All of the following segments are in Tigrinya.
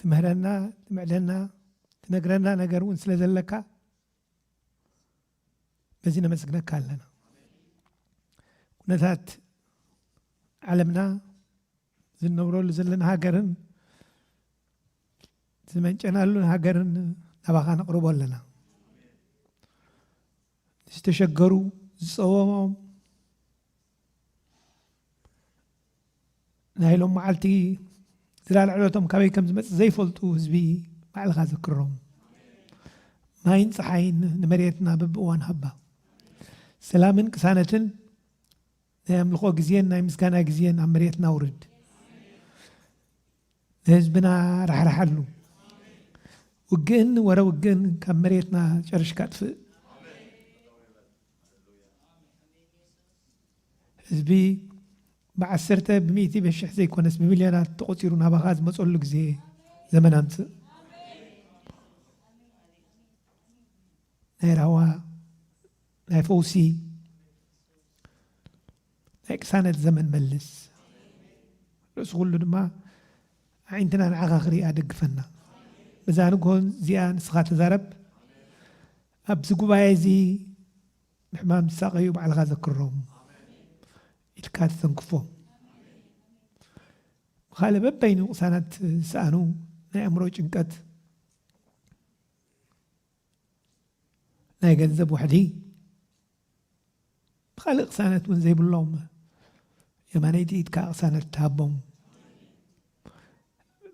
ትምህረና ትምዕደና ትነግረና ነገር እውን ስለ ዘለካ በዚ ነመስግነካ ኣለና ኩነታት ዓለምና ዝነብረሉ ዘለና ሃገርን ዝመንጨናሉን ሃገርን ናባኻ ነቕርቦ ኣለና ዝተሸገሩ ዝፀወሞም ናይ ሎም መዓልቲ ዝላል ዕለቶም ካበይ ከም ዝመፅ ዘይፈልጡ ህዝቢ ባዕልኻ ዘክሮም ማይን ፀሓይን ንመሬትና በብእዋን ሃባ ሰላምን ቅሳነትን ናይ ኣምልኾ ግዜን ናይ ምስጋና ግዜን ኣብ መሬትና ውርድ ንህዝብና ራሕራሓሉ ውግእን ወረ ውግእን ካብ መሬትና ጨርሽካ ጥፍእ ህዝቢ ብዓሰርተ ብሚእቲ በሽሕ ዘይኮነስ ብሚልዮናት ተቆጺሩ ናባኻ ዝመጸሉ ግዜ ዘመን ኣምጽእ ናይ ራህዋ ናይ ፈውሲ ናይ ቅሳነት ዘመን መልስ ርእሲ ኩሉ ድማ ኣዒንትና ንዓኻ ክሪኣ ደግፈና በዛ ንግሆን እዚኣ ንስኻ ተዛረብ ኣብዚ ጉባኤ እዚ ብሕማም ዝሳቐዩ ባዕልኻ ዘክሮም ኢልካ ተተንክፎም ብካልእ በበይኑ ቅሳናት ዝሰኣኑ ናይ ኣእምሮ ጭንቀት ናይ ገንዘብ ዋሕዲ ብኻልእ ቅሳነት እውን ዘይብሎም የማነይቲ ኢድካ ቅሳነት ትሃቦም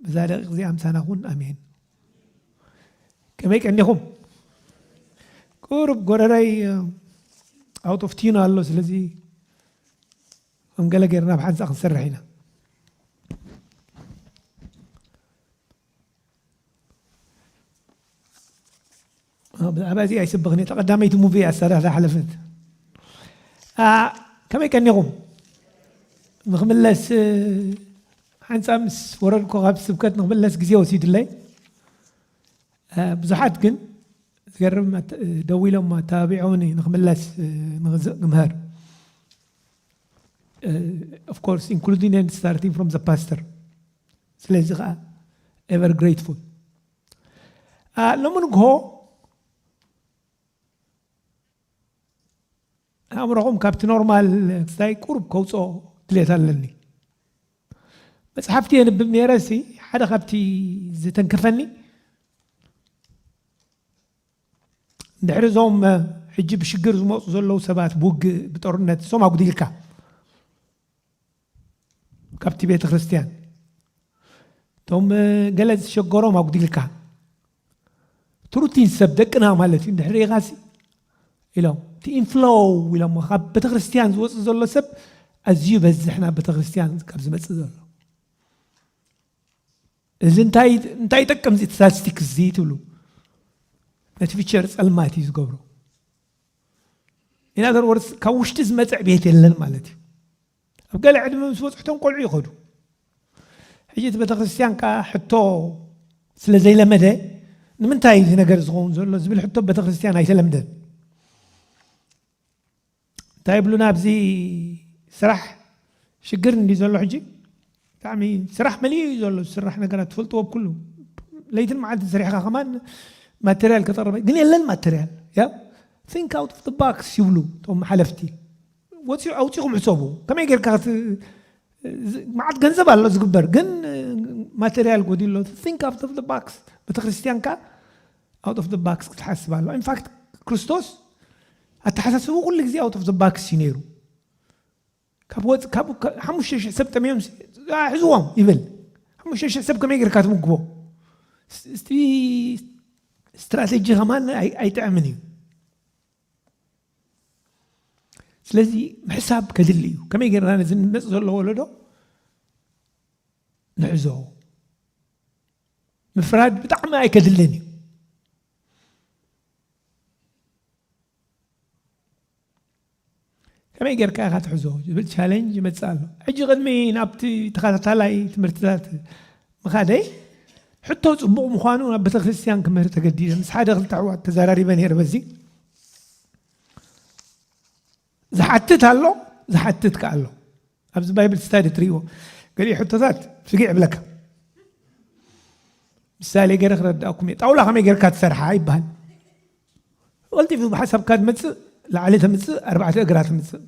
ብዛ ደቂቅ እዚኣ ምሳና ኩን ኣሜን ከመይ ቀኒኹም ቁሩብ ጎረረይ ኣውት ኦፍ ቲዩን ኣሎ ስለዚ ከም ገለ ጌርና ብሓንሳ ክንሰርሕ ኢና ብዛዕባ እዚ ኣይስብኽን እየ ተቐዳመይቲ ሙቪ እያ ዝሰራ ዝሓለፈት ከመይ ቀኒኹም ንክምለስ ሓንፃ ምስ ወረድኩ ካብ ስብከት ንክምለስ ግዜ ወሲዱለይ ብዙሓት ግን ዝገርም ደው ኢሎም ኣተባቢዖኒ ንክምለስ ንምህር ኦፍኮርስ ኢንክሉዲንግ ስታርቲንግ ፍሮም ዘ ፓስተር ስለዚ ከኣ ever grateful ሎሚ ንግሆ ኣእምሮኹም ካብቲ ኖርማል እንታይ ቁርብ ከውፅኦ ድሌት ኣለኒ መፅሓፍቲ የንብብ ነይረ ሲ ሓደ ካብቲ ዝተንከፈኒ ድሕሪ እዞም ሕጂ ብሽግር ዝመፁ ዘለዉ ሰባት ብውግእ ብጦርነት እሶም ኣጉዲልካ ካብቲ ቤተ ክርስቲያን እቶም ገለ ዝሸገሮም ኣጉዲልካ ትሩቲን ሰብ ደቅና ማለት እዩ እንድሕር ኢኻሲ ኢሎም እቲ ኢንፍሎው ኢሎሞ ካብ ቤተ ክርስቲያን ዝወፅእ ዘሎ ሰብ ኣዝዩ በዝሕ ናብ ቤተ ክርስቲያን ካብ ዝመፅእ ዘሎ እዚ እንታይ እንታይ ይጠቅም እዚ ስታቲስቲክስ እዚ ትብሉ ነቲ ፊቸር ፀልማት እዩ ዝገብሮ In other words ካብ ውሽጢ ዝመፀ ዕብየት የለን ማለት እዩ። ኣብ ገለ ዕድመ ምስ በፅሑቶም ቆልዑ ይኸዱ። ሕጂ እቲ ቤተክርስትያን ከዓ ሕቶ ስለ ዘይለመደ ንምንታይ እዚ ነገር ዝኸውን ዘሎ ዝብል ሕቶ ቤተክርስትያን ኣይተለምደን። እንታይ ይብሉና ኣብዚ ስራሕ ሽግር እንዲ ዘሎ ሕጂ ብጣዕሚ ስራሕ መሊኡ እዩ ዘሎ ዝስራሕ ነገራት ትፈልጥዎ ብ ኩሉ ለይትን መዓልትን ሰሪሕኻ ከማን ማተርያል ክተቕርብ ግን የለን ማተርያል ያ ቲንክ ኣውት ኦፍ ባክስ ይብሉ እቶም ሓለፍቲ ወፂኡ ኣውፂኹም ሕሰቡ ከመይ ጌርካ መዓት ገንዘብ ኣሎ ዝግበር ግን ማተርያል ጎዲሉ ኣሎ ቲንክ ኣውት ኦፍ ባክስ ቤተክርስትያንካ ኣውት ኦፍ ባክስ ክትሓስብ ኣሎ ኢንፋክት ክርስቶስ ኣተሓሳስቡ ኩሉ ግዜ ኣውት ኦፍ ባክስ እዩ ነይሩ ካብ ወጽ ካብ ሓሙሽተ ሽሕ ሰብ ጠምዮም ኣሕዝዎም ይብል ሓሙሽተ ሽሕ ሰብ ከመይ ጌርካ ትምግቦ እስቲ ስትራቴጂ ከማን ኣይጥዕምን እዩ ስለዚ ምሕሳብ ከድሊ እዩ ከመይ ጌርና ነዚ ንመፅ ዘሎ ወለዶ ንሕዞ ምፍራድ ብጣዕሚ ኣይከድልን እዩ ከመይ ጌርካ ኢኻ ትሕዞ ዝብል ቻለንጅ ይመጽእ ኣሎ። ሕጂ ቅድሚ ናብቲ ተኸታታላይ ትምህርትታት ምኻደይ ሕቶ ጽቡቕ ምዃኑ ናብ ቤተክርስትያን ክምህር ተገዲደ ምስ ሓደ ክልተ ኣሕዋት ተዘራሪበ ነይረ በዚ ዝሓትት ኣሎ ዝሓትት ከ ኣሎ ኣብዚ ባይብል ስታዲ ትሪእዎ ገሊኡ ሕቶታት ፍግዕ ይብለካ ምሳሌ ገይረ ክረዳእኩም እየ ጣውላ ከመይ ጌርካ ትሰርሓ ይበሃል ቐልጢፉ ብሓሳብካ ትመፅእ ላዕሊ ተምፅእ ኣርባዕተ እግራ ትምፅእ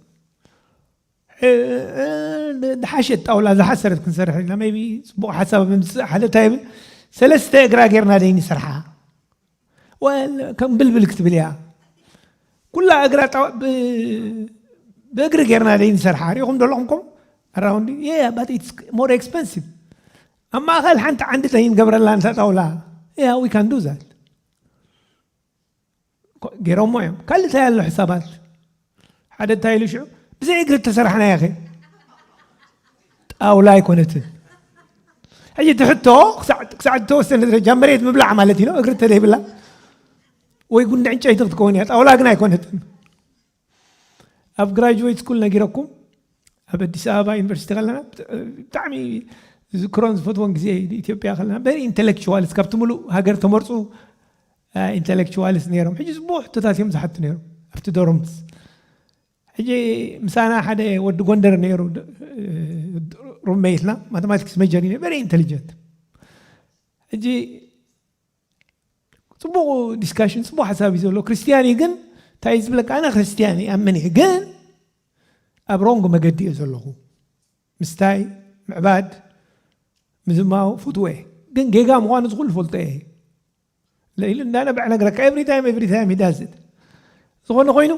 ድሓሸት ጣውላ ዝሓሰረት ክንሰርሕ ኢና ቢ ፅቡቅ ሓሳብ ምምፅእ ሓደ እንታይ ይብል ሰለስተ እግራ ጌርና ደይ ንስርሓ ከም ብልብል ክትብል እያ ኩላ እግራ ብእግሪ ጌርና ደይ ንሰርሓ ሪኢኹም ደለኹም ከም ኣራውንዲ ያ ባት ኢትስ ሞር ኤክስፐንሲቭ ኣብ ማእኸል ሓንቲ ዓንዲ ተይንገብረላ እንተ ጣውላ ያ ዊ ካን ዱ ዛት ገይሮሞ እዮም ካልእ እንታይ ኣሎ ሕሳባት ሓደ እንታይ ኢሉ ሽዑ ብዘይ እግሪ እተሰራሕና ያኸ ጣውላ ኣይኮነትን ሕጂ እቲ ሕቶ ክሳዕ ዝተወሰነ ደረጃ መሬት ምብላዕ ማለት እዩ እግሪ እንተዘይብላ ወይ ጉንዲ ዕንጨይቲ ክትከውን እያ ጣውላ ግን ኣይኮነትን ኣብ ግራጅወይት ስኩል ነጊረኩም ኣብ ኣዲስ ኣበባ ዩኒቨርሲቲ ከለና ብጣዕሚ ዝዝክሮን ዝፈትዎን ግዜ ኢትዮጵያ ከለና በሪ ኢንተሌክቹዋልስ ካብቲ ሙሉእ ሃገር ተመርፁ ኢንተሌክቹዋልስ ነይሮም ሕጂ ዝቡሕ ሕቶታት እዮም ዝሓቱ ነይሮም ኣብቲ ዶርምስ ሕጂ ምሳና ሓደ ወዲ ጎንደር ነይሩ ሩመይትና ማቴማቲክስ መጀር እዩ በሪ ኢንተሊጀንት ሕጂ ፅቡቅ ዲስካሽን ፅቡቅ ሓሳብ እዩ ዘሎ ክርስትያን እዩ ግን እንታይ እዩ ዝብለካ ኣነ ክርስትያን እዩ ኣምን እየ ግን ኣብ ሮንግ መገዲ እየ ዘለኹ ምስታይ ምዕባድ ምዝማው ፍትወ ግን ጌጋ ምዃኑ ዝኽሉ ፈልጦ እየ ለኢሉ እንዳነበዕ ነገረካ ኤቭሪ ታይም ኤቭሪ ታይም ይዳዝት ዝኾነ ኮይኑ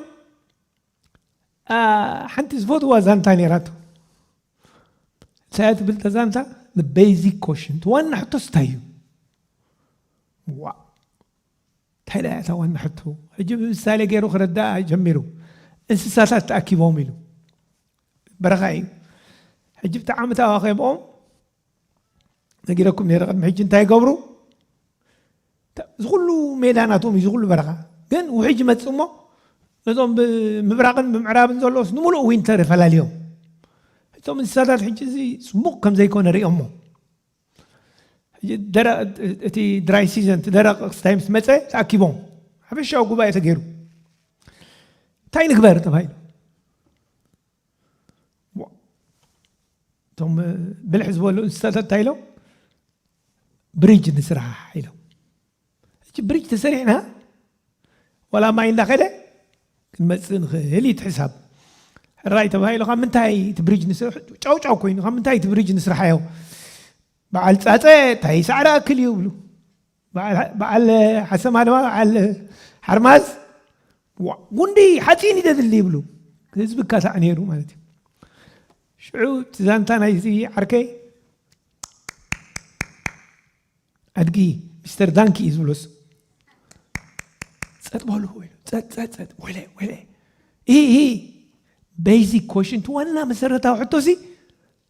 ሓንቲ ዝፈትዋ ዛንታ ነራቶ እንታይ ትብል ተዛንታ ንቤዚክ ኮሽን ዋና ሕቶስ እንታይ እዩ ዋእ እንታይ ደያ እታ ዋና ሕቶ ሕጂ ብምሳሌ ገይሩ ክረዳእ ጀሚሩ እንስሳታት ተኣኪቦም ኢሉ በረኻ እዩ ሕጂ ብጣዕሚ ተዋኺቦም ነጊረኩም ነረ ቅድሚ ሕጂ እንታይ ይገብሩ እዚ ኩሉ ሜዳ ናቶም እዩ ዝኩሉ በረኻ ግን ውሕጅ ይመፅ እሞ ነዞም ብምብራቕን ብምዕራብን ዘሎስ ንምሉእ ዊንተር ፈላልዮም እቶም እንስሳታት ሕጂ እዚ ፅቡቕ ከም ዘይኮነ ሪኦሞ እቲ ድራይ ሲዘን እቲ ደረቕ ክስታይ ምስ መፀ ተኣኪቦም ሓፈሻዊ ጉባኤ ተገይሩ እንታይ ንግበር ተባሂሉ እቶም ብልሕ ዝበሉ እንስሳታት እንታይ ኢሎም ብሪጅ ንስራሕ ኢሎም እቺ ብሪጅ ተሰሪሕና ዋላ ማይ እንዳኸደ ክንመፅእ ንኽእል እዩ ትሕሳብ ሕራይ ተባሂሉ ካብ ምንታይ እቲ ብሪጅ ንስራሕ ጫውጫው ኮይኑ ካብ ምንታይ እቲ ብሪጅ ንስራሕ እዮ በዓል ፃፀ እንታይ ሳዕሪ ኣክል እዩ ይብሉ በዓል ሓሰማ ድማ በዓል ሓርማዝ ጉንዲ ሓፂን ይደድሊ ይብሉ ህዝቢ ካሳዕ ነይሩ ማለት እዩ ሽዑ እቲ ዛንታ ናይዚ ዓርከይ ኣድጊ ሚስተር ዳንኪ እዩ ዝብሎስ ፀጥ በሉ ፀፀፀጥ ወለ ወለ ይህ ቤዚክ ኮሽንት ዋና መሰረታዊ ሕቶ ሲ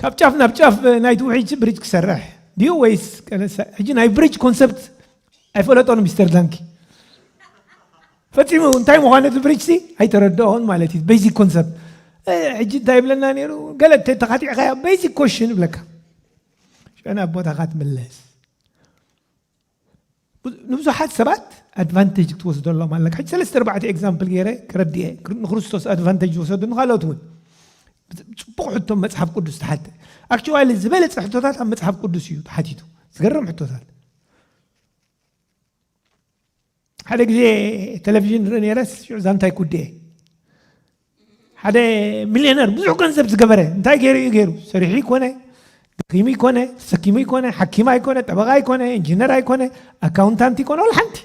ካብ ጫፍ ናብ ጫፍ ናይቲ ውሕጅ ብሪጅ ክሰርሕ ድዩ ወይስ ቀለሳ? ሕጂ ናይ ብሪጅ ኮንሰፕት ኣይፈለጦን ሚስተር ዳንኪ ፈፂሙ እንታይ ምዃኑ እቲ ብሪጅ ሲ ኣይተረድኦን ማለት እዩ ቤዚክ ኮንሰፕት ሕጂ እንታይ ይብለና ነይሩ ገለ ተኻቲዕካያ ቤዚክ ኮሽን ይብለካ ሸና ቦታኻ ትምለስ ንብዙሓት ሰባት ኣድቫንቴጅ ክትወስደሎም ኣለካ ሕጂ ሰለስተ ኣርባዕተ ኤግዛምፕል ገይረ ከረድኤ ንክርስቶስ ኣድቫንቴጅ ዝወሰዱ ንካልኦት እውን ፅቡቅ ሕቶ መፅሓፍ ቅዱስ ተሓተ ኣክቹዋሊ ዝበለፀ ሕቶታት ኣብ መፅሓፍ ቅዱስ እዩ ተሓቲቱ ዝገርም ሕቶታት ሓደ ግዜ ቴሌቭዥን ንርኢ ነይረስ ሽዑ ዛንታይ ኩዴ ሓደ ሚልዮነር ብዙሕ ገንዘብ ዝገበረ እንታይ ገይሩ እዩ ገይሩ ሰሪሑ ይኮነ ደኺሙ ይኮነ ተሰኪሙ ይኮነ ሓኪም ኣይኮነ ጠበቃ ኣይኮነ ኢንጂነር ኣይኮነ ኣካውንታንት ይኮነ ወላ ሓንቲ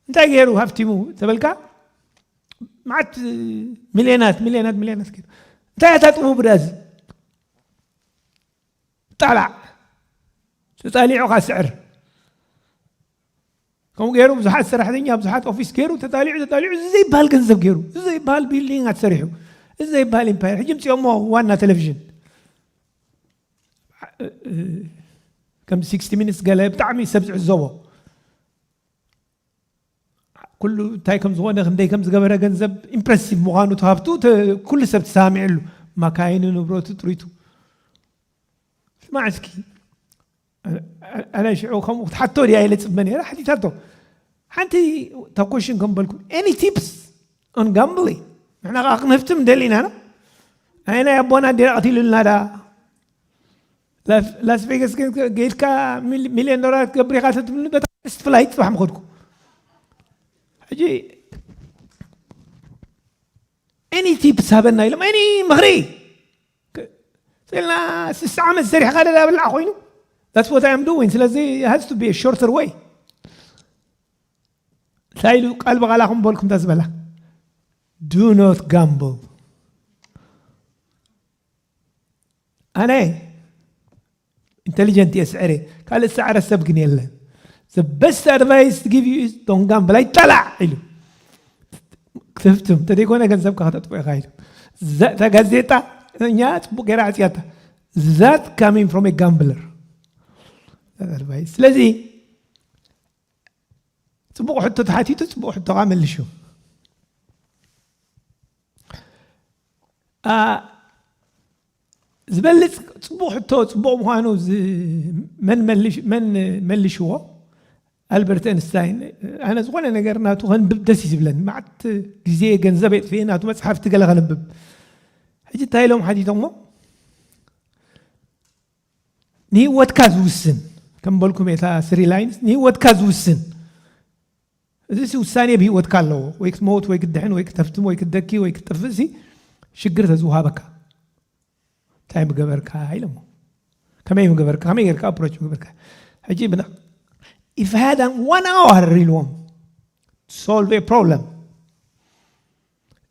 እንታይ ገይሩ ሃፍቲሙ ተበልካ መዓት ሚልዮናት ሚልዮናት ሚልዮናት ገይሩ እንታይ ኣታጥሙ ብዳዚ ጠላዕ ተጣሊዑኻ ስዕር ከምኡ ገይሩ ብዙሓት ሰራሕተኛ ብዙሓት ኦፊስ ገይሩ ተጣሊዑ ተጣሊዑ እዚ ዘይበሃል ገንዘብ ገይሩ እዚ ዘይበሃል ቢልዲንጋት ሰሪሑ እዚ ዘይበሃል ኢምፓየር ሕጂ ምፅኦሞ ዋና ቴሌቭዥን ከም ሲክስቲ ሚኒትስ ገለ ብጣዕሚ ሰብ ዝዕዘቦ ኩሉ እንታይ ከም ዝኾነ ክንደይ ከም ዝገበረ ገንዘብ ኢምፕረሲቭ ምዃኑ እቲ ሃፍቱ ኩሉ ሰብ ተሰማሚዕሉ ማካይኑ ንብረቱ ጥሪቱ ስማዕ እስኪ ኣነ ሽዑ ከምኡ ክትሓቶ ድያ ኢለ ፅበ ነይረ ሓቲታቶ ሓንቲ ተኮሽን ከም በልኩም ኤኒ ቲፕስ ኦን ጋምብሊንግ ንሕና ከዓ ክንህፍትም ደሊና ኢና ናይ ኣቦና ዲራ ቀቲሉልና ዳ ላስ ቬገስ ግን ገይድካ ሚልዮን ዶላር ክትገብር ኢኻ ተትብሉ በታ ፈርስት ፍላይት ፅባሕ ምኸድኩ ሕጂ ኤኒ ቲፕስ ሃበና ኢሎም ኤኒ ምኽሪ ስልና ስሳ ዓመት ሰሪሕኻ ደዳ ብላዕ ኮይኑ ዳትስ ዋት ኣም ዱዊን ስለዚ ሃዝ ቱ ቢ ሾርተር ወይ እንታይ ኢሉ ቃል ብቓላ ክንበልኩም እንተ ዝበላ ዱ ኖት ጋምብል ኣነ ኢንተሊጀንት እየ ስዕረ ካልእ ዝሰዕረ ሰብ ግን የለን the best advice to give you is don't gamble ኣይጠላዕ ኢሉ ክትህብትም እንተዘይኮነ ገንዘብካ ከተጥፎ ኢኻ ኢሉ እዛ- እታ ጋዜጣ እኛ ፅቡቅ ገይራ ዕፅያታ ዛት ካሚንግ ፍሮም ጋምብለር ስለዚ ፅቡቅ ሕቶ ተሓቲቱ ፅቡቅ ሕቶ ከዓ መልሹ ዝበልፅ ፅቡቕ ሕቶ ፅቡቕ ምዃኑ መን መልሽዎ ኣልበርት ኣንስታይን ኣነ ዝኾነ ነገር ናቱ ከንብብ ደስ እዩ ዝብለኒ መዓት ግዜ ገንዘብ የጥፍኤ ናቱ መፅሓፍቲ ገለ ከንብብ ሕጂ እንታይ ኢሎም ሓቲቶሞ ንህወትካ ዝውስን ከም በልኩም የታ ስሪ ላይንስ ንህወትካ ዝውስን እዚሲ ውሳኔ ብሂወትካ ኣለዎ ወይ ክትመውት ወይ ክትድሕን ወይ ክተፍትም ወይ ክትደኪ ወይ ክትጥፍእሲ ሽግር ተዝውሃበካ እንታይ ምገበርካ ኢሎሞ ከመይ ምገበርካ ከመይ ጌርካ ኣፕሮች ምገበርካ ሕጂ ብና if I had one hour ኢልዎም solve a problem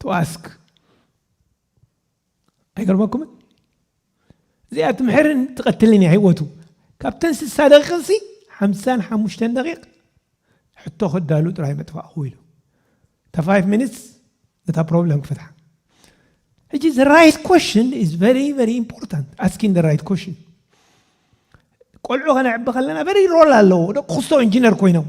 to ask ኣይገርመኩምን እዚኣ ትምሕርን ትቐትልን እያ ህይወቱ ካብተን ስሳ ደቂቕሲ ሓምሳን ሓሙሽተን ደቂቕ ሕቶ ክዳሉ ጥራይ መጥፋእኹ ኢሉ እታ ፋይቭ ሚኒትስ ነታ ፕሮብለም ክፈትሓ ሕጂ ዘ ራይት ኮሽን ኢዝ ቨሪ ቨሪ ኢምፖርታንት ኣስኪን ዘ ራይት ኮሽን ቆልዑ ከነዕቢ ከለና ቨሪ ሮል ኣለዎ ደቂ ክስቶ ኢንጂነር ኮይኖም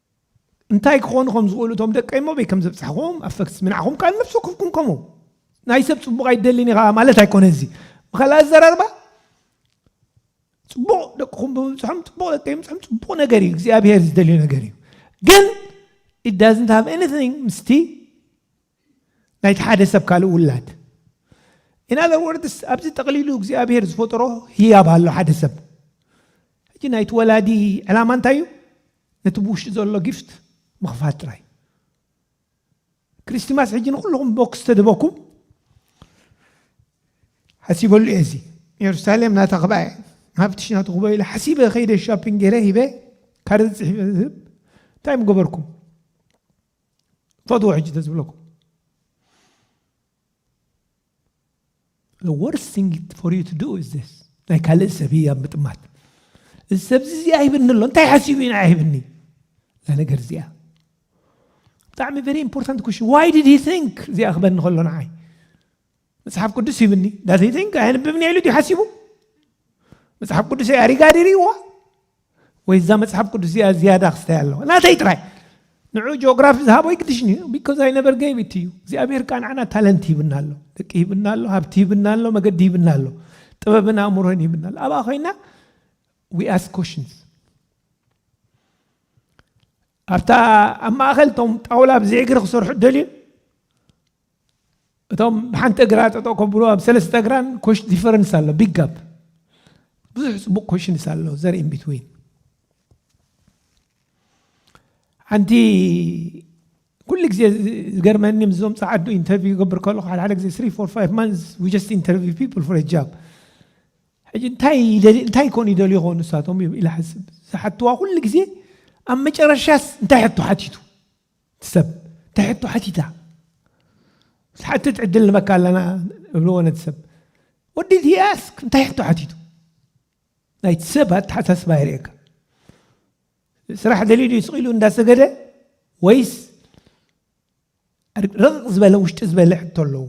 እንታይ ክኾኑ ከም ዝኽእሉ እቶም ደቀይ እሞ ኣበይ ከም ዘብጻሕኹም ኣፈግስሚ ንዓኹም ከኣ ንነፍሲ ወከፍኩም ከምኡ ናይ ሰብ ጽቡቕ ኣይደልን ኢኻ ማለት ኣይኮነን እዚ ብካልእ ኣዘራርባ ጽቡቕ ደቅኹም ብምብጽሖም ጽቡቕ ደቀይ ምብጽሖም ጽቡቕ ነገር እዩ እግዚኣብሄር ዝደልዮ ነገር እዩ ግን it doesn't have anything ምስቲ ናይቲ ሓደ ሰብ ካልእ ውላድ ኢን ኣዘር ወርድስ ኣብዚ ጠቕሊሉ እግዚኣብሄር ዝፈጠሮ ህያብ ኣሎ ሓደ ሰብ ሕጂ ናይቲ ወላዲ ዕላማ እንታይ እዩ ነቲ ብውሽጢ ዘሎ ጊፍት ምኽፋት ጥራይ ክሪስቲማስ ሕጂ ንኩልኹም ቦክስ ተደበኩም ሓሲበሉ እየ እዚ ኢየሩሳሌም ናታ ክብኣ እየ ሃብትሽ ናቱ ክበ ኢለ ሓሲበ ከይደ ሻፒንግ ገይረ ሂበ ካርድ ፅሒፈ ዝህብ እንታይ ምገበርኩም ፈትዎ ሕጂ ተዝብለኩም The worst thing for you to do is this. ናይ ካልእ ሰብ ህያብ ምጥማት እዚ ሰብዚ እዚ ኣይብኒ ኣሎ እንታይ ሓሲቡ ኢና ኣይብኒ እዛ ነገር እዚኣ ብጣዕሚ ቨሪ ኢምፖርታንት ኩሽን ዋይ ዲድ ሂ ቲንክ እዚኣ ክበኒ ከሎ ንዓይ መፅሓፍ ቅዱስ ይብኒ ዳት ሂ ቲንክ ኣየንብብኒ ኢሉ ድዩ ሓሲቡ መፅሓፍ ቅዱስ ኣሪጋ ድርይዋ ወይ እዛ መጽሓፍ ቅዱስ እዚኣ ዝያዳ ክስተያ ኣለዋ ናተይ ጥራይ ንዑ ጂኦግራፊ ዝሃቦ ይግድሽኒ ቢኮዝ ኣይ ነበር ገይብ ኢት እዩ እግዚኣብሔር ከዓ ንዓና ታለንት ይብና ኣሎ ደቂ ይብና ኣሎ ሃብቲ ይብና ኣሎ መገዲ ይብና ኣሎ ጥበብን ኣእምሮን ይብና ኣሎ ኣብኣ ኮይና ዊ ኣስ ኮሽንስ ኣብታ ኣብ ማእኸል እቶም ጣውላ ብዘይ እግሪ ክሰርሑ ደልዩ እቶም ብሓንቲ እግራ ጠጠው ከብሉ ኣብ ሰለስተ እግራን ኮሽ ዲፈረንስ ኣሎ ቢግ ጋፕ ብዙሕ ፅቡቅ ኮሽንስ ኣሎ ዘርኢ ቢትዊን ሓንቲ ኩሉ ግዜ ዝገርመኒ ምስዞም ፀዓዱ ኢንተርቪው ይገብር ከለኹ ሓደ ሓደ ግዜ ስሪ ፎር ፋይቭ ማንስ ዊ ጀስት ኢንተርቪው ፒፕል ፎር ጃብ ሕጂ እንታይ ይደሊ እንታይ ኮን ይደልዩ ኾኑ ንሳቶም ኢለ ሓስብ ዝሓትዋ ኩሉ ግዜ ኣብ መጨረሻስ እንታይ ሕቶ ሓቲቱ ሰብ እንታይ ሕቶ ሓቲታ ዝሓትት ዕድል ንበካ ኣለና እብልዎ ነቲ ሰብ ወዲ ቲያስ እንታይ ሕቶ ሓቲቱ ናይቲ ሰብ ኣተሓሳስባ የርእየካ ስራሕ ደልዩ ድዩ ስቂሉ እንዳሰገደ ወይስ ረቕቕ ዝበለ ውሽጢ ዝበለ ሕቶ ኣለዎ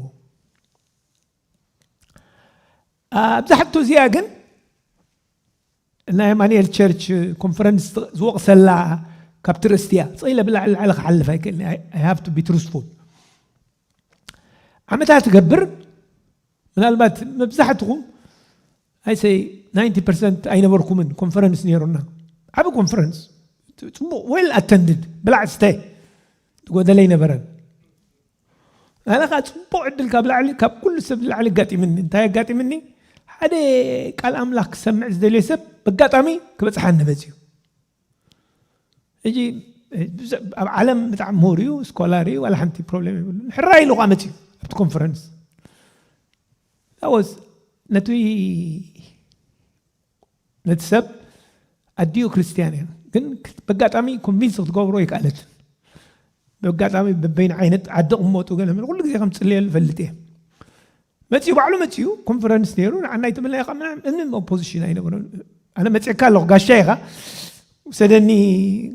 ኣብዛ ሕቶ እዚኣ ግን ናይ ኣማንኤል ቸርች ኮንፈረንስ ዝወቕሰላ ካብቲ ርእስቲ እያ ፀኢለ ብላዕሊ ላዕሊ ክሓልፍ ኣይክእልኒ ሃብ ቱ ቢ ትሩስፉል ዓመታት ትገብር ምናልባት መብዛሕትኹም ኣይሰይ 90 ፐርሰንት ኣይነበርኩምን ኮንፈረንስ ነይሩና ዓብ ኮንፈረንስ ፅቡቕ ዌል ኣተንድድ ብላዕ ስተ ዝጎደለ ኣይነበረን ናይባኻ ጽቡቕ ዕድል ካብ ላዕሊ ካብ ኩሉ ሰብ ንላዕሊ ኣጋጢምኒ እንታይ ኣጋጢምኒ ሓደ ቃል ኣምላኽ ክሰምዕ ዝደልየ ሰብ በጋጣሚ ክበጽሓኒ መጽዩ ሕጂ ኣብ ዓለም ብጣዕሚ ምሁር እዩ ስኮላር እዩ ዋላ ሓንቲ ፕሮብሌም የብሉ ሕራ ኢሉ ከዓ መፅዩ ኣብቲ ኮንፈረንስ ዳወስ ነቲ ነቲ ሰብ ኣዲኡ ክርስትያን እዩ ግን በጋጣሚ ኮንቪንስ ክትገብሮ ኣይከኣለትን በጋጣሚ በበይን ዓይነት ዓዲ ቅመጡ ገለ ኩሉ ግዜ ከም ፅልየሉ ፈልጥ እየ መፅኡ ባዕሉ መፅኡ ኮንፈረንስ ነይሩ ንዓና ይትምልና ኢኻ ምናምን እምንም ኦፖዚሽን ኣይነበረን ኣነ መፅእካ ኣለኹ ጋሻ ኢኻ ውሰደኒ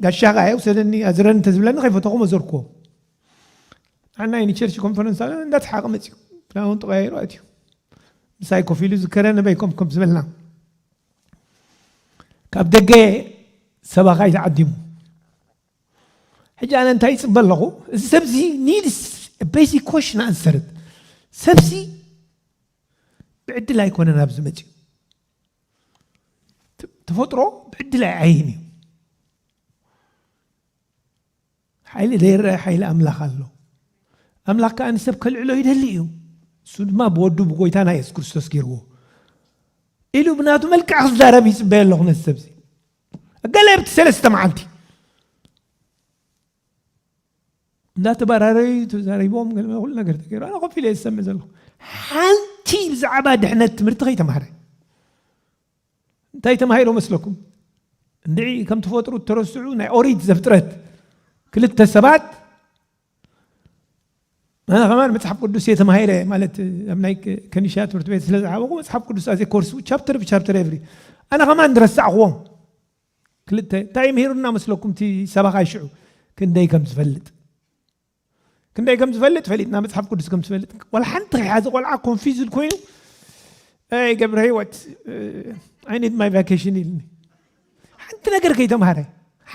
ጋሻኻ እየ ውሰደኒ ኣዝረኒ እንተዝብለኒ ከይፈተኹ መዘርክዎ ንዓና እዩ ንቸርች ኮንፈረንስ ኣለ እንዳተሓቐ መፅዩ ክዳውን ተቐያይሩ ኣትዩ ምሳይ ኮፍ ኢሉ ዝከረ ነበይ ኮም ኮም ዝበልና ካብ ደገ ሰባኻይ ተዓዲሙ ሕጂ ኣነ እንታይ ይፅበ ኣለኹ እዚ ሰብዚ ኒድስ ቤዚክ ኮሽን ኣንሰርት ሰብሲ ብዕድል ኣይኮነን ኣብዚ መፅዩ ተፈጥሮ ብዕድል ኣይዓይን እዩ ሓይሊ ዘይረኣ ሓይሊ ኣምላኽ ኣሎ። ኣምላኽ ከኣ ንሰብ ከልዕሎ ይደሊ እዩ። ንሱ ድማ ብወዱ ብጎይታና የሱስ ክርስቶስ ገይርዎ ኢሉ ብናቱ መልክዕ ክዛረብ ይጽበየ ኣለኹ ነዚ ሰብዚ ገለ ኣብቲ ሰለስተ መዓልቲ እንዳተባራረዩ ተዛሪቦም ገለ ኩሉ ነገር ተገይሩ ኣነ ኮፍ ኢለ ዝሰምዕ ዘለኹ ሓንቲ ብዛዕባ ድሕነት ትምህርቲ ከይተማህረ እንታይ ተማሂሮ መስለኩም? እንድዒ ከም ትፈጥሩ እተረስዑ ናይ ኦሪት ዘፍጥረት ክልተ ሰባት ኣነ ከማን መጽሓፍ ቅዱስ እየ ተማሂረ ማለት ኣብ ናይ ከኒሻ ትምህርቲ ቤት ስለ ዝዓበኹ መጽሓፍ ቅዱስ ኣዘ ኮርሱ ቻፕተር ብቻፕተር የብሪ ኣነ ከማን ዝረሳዕኽዎም ክልተ እንታይ ምሂሩና መስለኩም እቲ ሰባኻ ይሽዑ ክንደይ ከም ዝፈልጥ ክንደይ ከም ዝፈልጥ ፈሊጥና መፅሓፍ ቅዱስ ከም ዝፈልጥ ዋላ ሓንቲ ከይሓዘ ቆልዓ ኮንፊዝድ ኮይኑ ኣይ ገብረ ህይወት ኣይ ኒድ ማይ ቫኬሽን ኢልኒ ሓንቲ ነገር ከይተምሃረ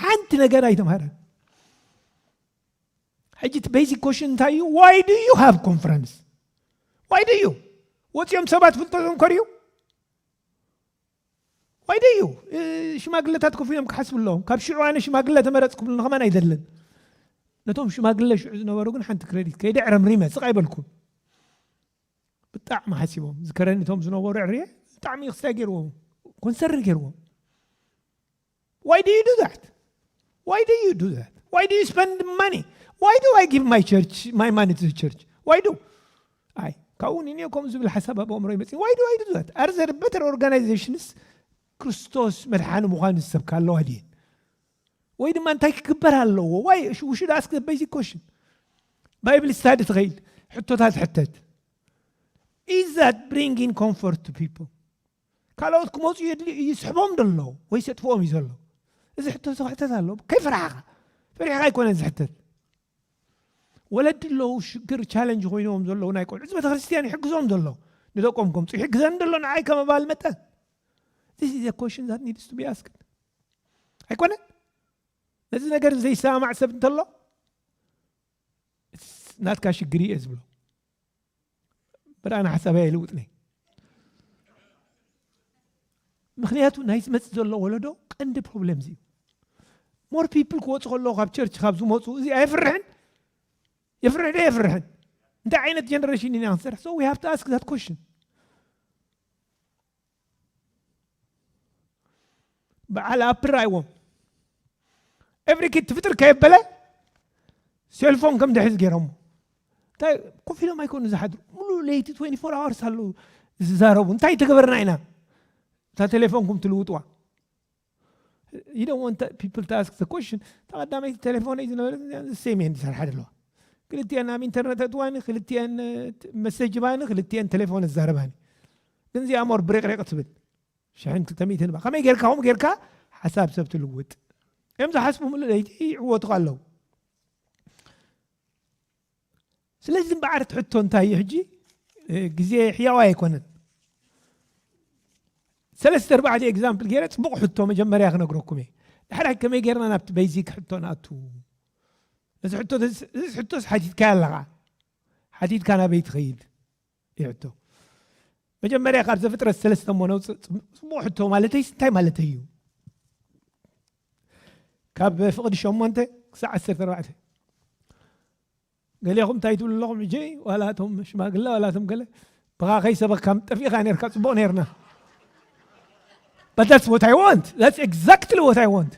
ሓንቲ ነገር ኣይተምሃረ ሕጂ እቲ ቤዚክ ኮሽን እንታይ እዩ ዋይ ዱ ዩ ሃቭ ኮንፈረንስ ዋይ ዱ ዩ ወፂኦም ሰባት ፍልጠቶም ከርዩ ዋይ ደዩ ሽማግለታት ኮፍ ኢሎም ክሓስቡ ኣለዎም። ካብ ሽዑ ኣነ ሽማግለ ተመረጽኩ ክብልኒ ከማን ኣይደልን። ነቶም ሽማግለ ሽዑ ዝነበሩ ግን ሓንቲ ክረዲት ከይደ ዕረምሪመ ስቕ ኣይበልኩን። ብጣዕሚ ሓሲቦም ዝከረኒ እቶም ዝነበሩ ዕርየ ብጣዕሚ ክስታይ ገይርዎም ኮንሰርን ገይርዎም። ዋይ ዱ ዩ ዱ ዛት ዋይ ዱ ዩ ዱ ዛት ዋይ ዱ ዩ ስፐንድ ማኒ ዋይ ዱ ኣይ ጊቭ ማይ ቸርች ማይ ማኒ ቱ ዘ ቸርች ዋይ ዱ ኣይ ካብኡ ውን እኔ ከምኡ ዝብል ሓሳብ ኣብ ኣእምሮይ መፂ ዋይ ዱ ኣይ ዱ ዛት ኣር ዘር በተር ኦርጋናይዜሽንስ ክርስቶስ መድሓኒ ምዃኑ ዝሰብካ ኣለዋ ድየን ወይ ድማ እንታይ ክግበር ኣለዎ ዋይ ውሽድ ኣስክ ዘ ቤዚክ ኮሽን ባይብል ስታዲ ትኸይድ ሕቶታት ሕተት ኢዝ ዛት ብሪንግ ኢን ኮምፎርት ቱ ፒፕል ካልኦት ክመጹ የድልዩ እዩ ዝስሕቦም ዶ ኣሎ ወይስ የጥፍኦም እዩ ዘሎ እዚ ሕቶ ክሕተት ኣሎ ከይፈራሕኻ ፈሪሕኻ ኣይኮነን ዝሕተት ወለዲ ኣለዉ ሽግር ቻለንጅ ኮይኖም ዘለዉ ናይ ቆልዑ እዚ ቤተክርስትያን ይሕግዞም ዘሎ ንደቆም ከምፁ ይሕግዘን ዘሎ ንዓይ ከም ኣባል መጠን ዚስ ኢዘ ኮሽን ዛት ኒድስ ቱ ቢ ኣስክድ ኣይኮነን ነዚ ነገር ዘይሰማማዕ ሰብ እንተሎ ናትካ ሽግር እየ ዝብሎ በር ኣነ ሓሳበይ ኣይልውጥነ ምክንያቱ ናይ ዝመፅእ ዘሎ ወለዶ ቀንዲ ፕሮብለም እዩ ሞር ፒፕል ክወፁ ከለዎ ካብ ቸርች ካብ ዝመፁ እዚ ኣይፍርሕን የፍርሕ ዶ የፍርሕን እንታይ ዓይነት ጀነሬሽን ኢና ክንሰርሕ ሶ ዊ ሃቭ ቱ ኣስክ ዛት ኮሽን በዓል ኣፕል ራይዎም ኤቭሪ ኪድ ትፍጥር ከየበለ ሴልፎን ከም ድሕዝ ገይሮሞ እንታይ ኮፍ ኢሎም ኣይኮኑ ዝሓድሩ ሙሉእ ለይቲ 24 ኣዋርስ ኣለዉ ዝዛረቡ እንታይ ተገበርና ኢና እታ ቴሌፎንኩም ትልውጥዋ you don't want to, people to ask the question እታ ቀዳመይቲ ቴሌፎነይ ዝነበረት ሴም እየን ዝሰርሓ ዘለዋ ክልቲኤን ኣብ ኢንተርነት ኣትዋኒ ክልቲኤን መሰጅ ባኒ ክልቲኤን ቴሌፎን እዛረባኒ ግን እዚኣ ሞር ብሬቅሬቅ ትብል ሽሕን ክልተ ሚእትን ባ ከመይ ጌርካ ከምኡ ጌርካ ሓሳብ ሰብ ትልውጥ እዮም ዝሓስቡ ምሉ ለይቲ ይዕወቱካ ኣለዉ ስለዚ እምበዓር እቲ ሕቶ እንታይ እዩ ሕጂ ግዜ ሕያዋይ ኣይኮነን ሰለስተ ኣርባዕተ ኤግዛምፕል ገይረ ፅቡቕ ሕቶ መጀመርያ ክነግረኩም እየ ድሕራይ ከመይ ገይርና ናብቲ በይዚክ ሕቶ ንኣቱ እዚ ሕቶስ ሓቲትካያ ኣለኻ ሓቲትካ ናበይ ትኸይድ ይሕቶ መጀመርያ ካብ ዘፍጥረት ሰለስተ እሞ ነውፅእ ፅቡቅ ሕቶ ማለተይስ እንታይ ማለተይ እዩ ካብ ፍቅዲ ሸሞንተ ክሳዕ ዓሰርተ ኣርባዕተ ገሌኹም እንታይ ትብሉ ኣለኹም ሕጂ ዋላ እቶም ሽማግለ ዋላ እቶም ገለ ብኻ ከይሰበካ ጠፊእኻ ነርካ ፅቡቅ ነርና But that's what I want. That's exactly what I want.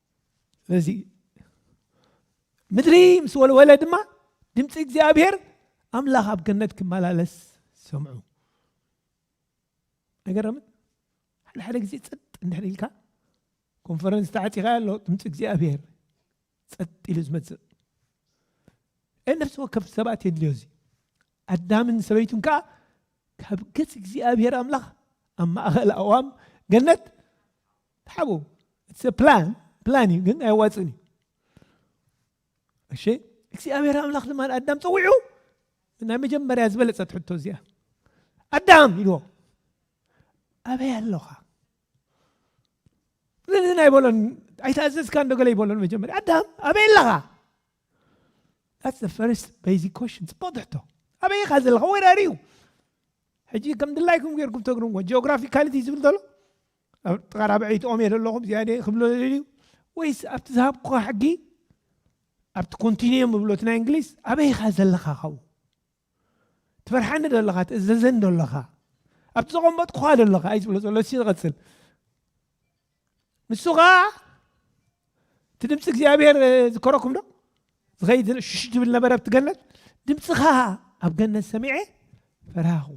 ስለዚ ምድሪ ምስ ወልወለ ድማ ድምፂ እግዚኣብሔር ኣምላኽ ኣብ ገነት ክመላለስ ሰምዑ ኣይገረምን ሓደ ሓደ ግዜ ፀጥ እንድሕር ኢልካ ኮንፈረንስ ተዓፂኻ ኣሎ ድምፂ እግዚኣብሔር ፀጥ ኢሉ ዝመፅእ ነፍሲ ወከፍ ሰባት የድልዮ እዚ ኣዳምን ሰበይቱን ከዓ ካብ ገፅ እግዚኣብሔር ኣምላኽ ኣብ ማእኸል ኣዋም ገነት ተሓበኡ ኢትስ አ ፕላን ፕላን እዩ ግን ኣየዋፅእን እዩ እሺ እግዚኣብሔር ኣምላኽ ድማ ኣዳም ፀዊዑ ናይ መጀመርያ ዝበለፀት ሕቶ እዚኣ ኣዳም ኢልዎ ኣበይ ኣለኻ ንህና ይበሎን ኣይተኣዘዝካ እንዶ ገለ ይበሎን መጀመርያ ኣዳም ኣበይ ኣለኻ That's the first basic question ፅቡቅ ትሕቶ ኣበይ ኢኻ ዘለኻ ወራሪ እዩ ሕጂ ከም ድላይኩም ጌርኩም ተግርምዎ ጂኦግራፊካሊቲ ዝብል ዘሎ ኣብ ጥቓ ራብዐይቲ ኦም እየ ዘለኹ እዚኣ ድየ ክብሎ ደልዩ ወይስ ኣብቲ ዝሃብኩኻ ሕጊ ኣብቲ ኮንቲኒየም እብሎ እቲ ናይ እንግሊዝ ኣበይ ኢኻ ዘለኻ ካብኡ ትፈርሓኒ ዶ ኣለኻ ትእዘዘኒ ዶ ኣለኻ ኣብቲ ዘቐመጥኩኻ ዶ ኣለኻ እዩ ዝብሎ ዘሎ እሲ ዝቐፅል ንሱ ከዓ እቲ ድምፂ እግዚኣብሔር ዝከረኩም ዶ ዝኸይድ ሽሽ ዝብል ነበረ ኣብቲ ገነት ድምፅኻ ኣብ ገነት ሰሚዐ ፈራኹ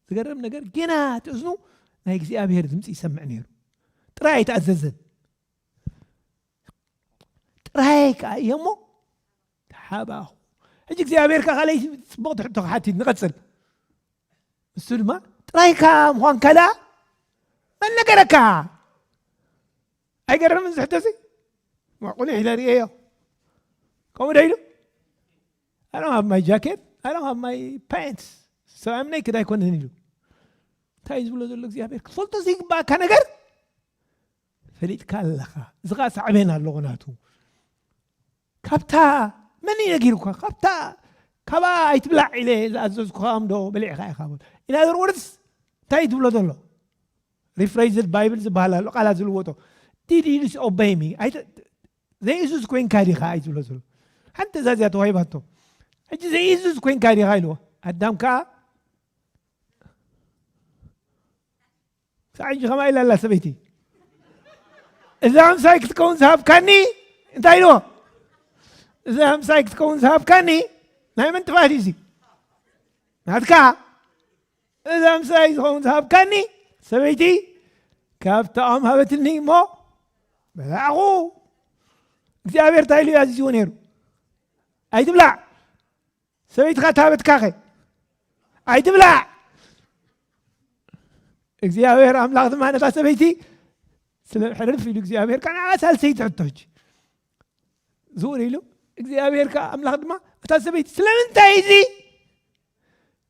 ዝገርም ነገር ጌና እቲ እዝኑ ናይ እግዚኣብሔር ድምፂ ይሰምዕ ነይሩ ጥራይ ኣይተኣዘዘን ጥራይ ከዓ እየ እሞ ተሓባኹ ሕጂ እግዚኣብሔር ከዓ ካለይ ፅቡቅ ትሕቶ ክሓቲት ንቐፅል ንሱ ድማ ጥራይካ ምኳን ከልኣ መን ነገረካ ኣይገርምን ዝሕቶ እዚ ቁኒሕ ኢለ ርእየዮ ከምኡ ዶ ኢሉ I don't have my jacket, I don't have my pants. So I'm naked ኣይኮነን ኢሉ እንታይ እዩ ዝብሎ ዘሎ እግዚኣብሔር ክትፈልጦ ዘይግባእካ ነገር ፈሊጥካ ኣለኻ እዚ ከዓ ሳዕቤን ኣለዎ ናቱ ካብታ መን እዩ ነጊሩካ ካብታ ካባኣ ኣይትብላዕ ኢለ ዝኣዘዝኩኻ እምዶ በሊዕኻ ኢኻ በል ኢን ኣዘር ወርድስ እንታይ እዩ ትብሎ ዘሎ ሪፍሬዝድ ባይብል ዝበሃል ኣሎ ቃላት ዝልወጦ ዲድ ዩ ዲስኦበይ ሚ ዘይእዙዝ ኮይንካ ዲኻ እዩ ዝብሎ ዘሎ ሓንቲ ትእዛዝ እያ ተዋሂባቶ ሕጂ ዘይእዙዝ ኮይንካ ዲኻ ኢልዎ ኣዳም ከዓ ክሳዕ ሕጂ ከምኣ ኢላ ኣላ ሰበይቲ እዛ ኣምሳይ ክትከውን ዝሃብካኒ እንታይ ኢልዎ እዛ ኣምሳይ ክትከውን ዝሃብካኒ ናይ መን ጥፍኣት እዩ እዚ ናትካ እዛ ምስራይ ዝኸውን ዝሃብካኒ ሰበይቲ ካብታኦም ሃበትኒ እሞ በላዕኹ እግዚኣብሔር እንታይ ኢሉ እዩ ኣዚዝዎ ነይሩ ኣይትብላዕ ሰበይትኻ ታበትካኸ ኣይትብላዕ እግዚኣብሔር ኣምላኽ ድማ ነታ ሰበይቲ ስለ ሕርፍ ኢሉ እግዚኣብሔር ከዓ ንዓ ሳልሰይቲ ሕቶች ዝውር ኢሉ እግዚኣብሔር ከዓ ኣምላኽ ድማ እታ ሰበይቲ ስለምንታይ እዚ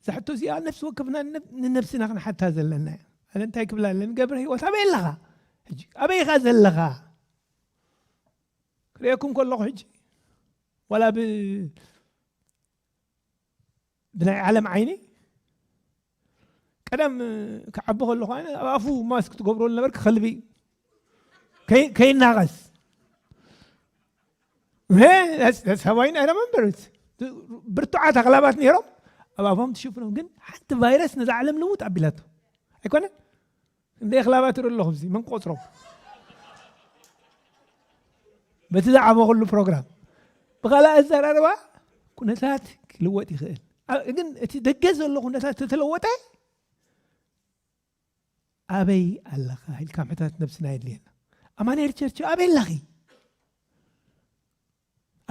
እዛ ሕቶ እዚኣ ነፍሲ ወከፍና ንነብስና ክንሓታ ዘለና እያ ኣነ እንታይ ክብላ ኣለኒ ገብረ ህይወት ኣበይ ኣለኻ ሕጂ ኣበይ ኢኻ ዘለኻ ክርእየኩም ከለኹ ሕጂ ዋላ ብ ብናይ ዓለም ዓይኒ ቀደም ክዓቢ ከለኹ ኣነ ኣብ ኣፉ ማስክ ትገብሮ ዝነበርክ ከልቢ ከይናቐስ ሰባይ ናይ ረመንበርት ብርቱዓት ኣክላባት ነይሮም ኣብ ኣፎም ትሽፍኖም ግን ሓንቲ ቫይረስ ነዛ ዓለም ልውጥ ኣቢላቶ ኣይኮነን እንደ ኣክላባት ይርኢ ኣለኹ ዚ መን ቆፅሮም በቲ ዝዓበኹሉ ፕሮግራም ብካልእ ኣዘራርባ ኩነታት ክልወጥ ይኽእል ግን እቲ ደገ ዘሎ ኩነታት ተተለወጠ ኣበይ ኣለኻ ኢልካ ምሕታት ነብስና የድልየና ኣማንኤል ቸርች ኣበይ ኣለኺ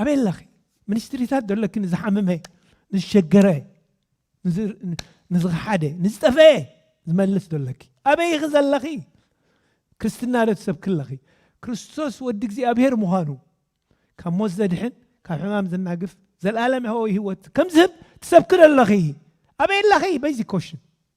ኣበይ ኣለኺ ሚኒስትሪታት ዘለኪ ንዝሓመመ ንዝሸገረ ንዝኸሓደ ንዝጠፈኤ ዝመልስ ዘለኪ ኣበይ ኢኺ ዘለኺ ክርስትና ዶ ትሰብኪ ኣለኺ ክርስቶስ ወዲ እግዚኣብሄር ምዃኑ ካብ ሞት ዘድሕን ካብ ሕማም ዘናግፍ ዘልኣለም ህወ ህይወት ከም ዝህብ ትሰብኪ ዘለኺ ኣበይ ኣለኺ በይዚ ኮሽን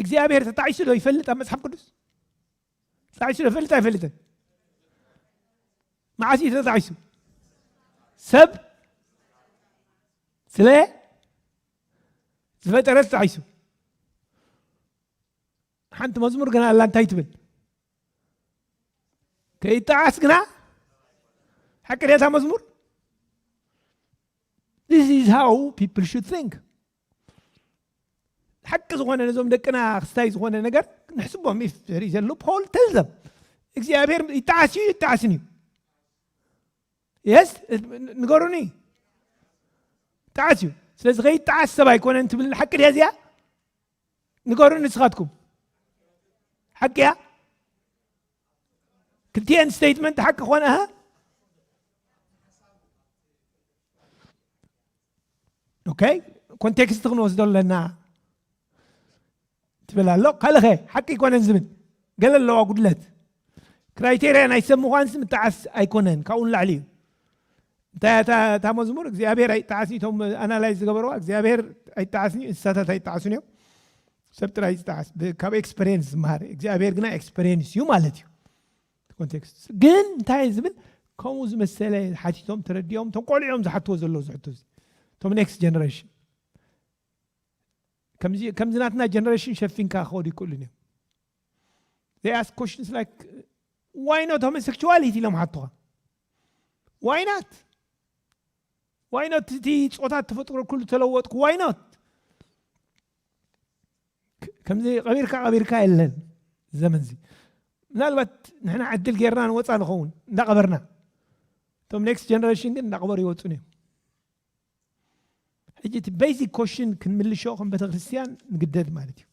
እግዚኣብሔር ተጣዒሱ ዶ ይፈልጥ ኣብ መፅሓፍ ቅዱስ ተጣዒሱ ዶ ይፈልጥ ኣይፈልጥን መዓስ እዩ ተጣዒሱ ሰብ ስለ ዝፈጠረ ተጣዒሱ ሓንቲ መዝሙር ግና ኣላ እንታይ ትብል ከይጣዓስ ግና ሓቂ ድታ መዝሙር This is how people should think. ሓቂ ዝኾነ ነዞም ደቅና ክስታይ ዝኾነ ነገር ንሕስቦም ኢፍ ዘሪ ዘሎ ፖል ተልዘም እግዚኣብሔር ይጣዓስ እዩ ይጣዓስን እዩ የስ ንገሩኒ ጣዓስ እዩ ስለዚ ከይጣዓስ ሰብ ኣይኮነን ትብል ሓቂ ድያ እዚኣ ንገሩኒ ንስኻትኩም ሓቂ እያ ክልቲኤን ስቴትመንት ሓቂ ኮነ ኦኬ ኮንቴክስት ክንወስዶ ኣለና ትብል ኣሎ ካልኸ ሓቂ ይኮነን ዝብል ገለ ኣለዋ ጉድለት ክራይቴርያ ናይ ሰብ ምዃንስ ምጣዓስ ኣይኮነን ካብኡ ንላዕሊ እዩ እንታይ እያ እታ እታ መዝሙር እግዚኣብሔር ኣይጣዓስን እቶም ኣናላይዝ ዝገበርዋ እግዚኣብሔር ኣይጣዓስን እዩ እንስሳታት ኣይጣዓሱን እዮም ሰብ ጥራይ ዝጣዓስ ካብ ኤክስፐሪንስ ዝመሃር እግዚኣብሔር ግና ኤክስፐሪንስ እዩ ማለት እዩ ኮንቴክስት ግን እንታይ ዝብል ከምኡ ዝመሰለ ሓቲቶም ተረዲኦም እቶም ቆልዑ እዮም ዝሓትዎ ዘለዎ ዝሕቶ እዚ እቶም ኔክስት ጀነሬሽን ከምዚ ናትና ጀነሬሽን ሸፊንካ ክኸዱ ይክእሉን እዮም they ask questions like why not homosexuality ኢሎም ሓትኻ ዋይ ናት ዋይ ኖት እቲ ፆታት ተፈጥሮ ኩሉ ተለወጥኩ ዋይ ኖት ከምዚ ቀቢርካ ቀቢርካ የለን ዘመን እዚ ምናልባት ንሕና ዕድል ጌርና ንወፃ ንኸውን እንዳቐበርና እቶም ኔክስት ጀነሬሽን ግን እንዳቐበሩ ይወፁን እዮም ሕጂ እቲ ቤዚክ ኮሽን ክንምልሾ ከም ቤተክርስትያን ንግደድ ማለት እዩ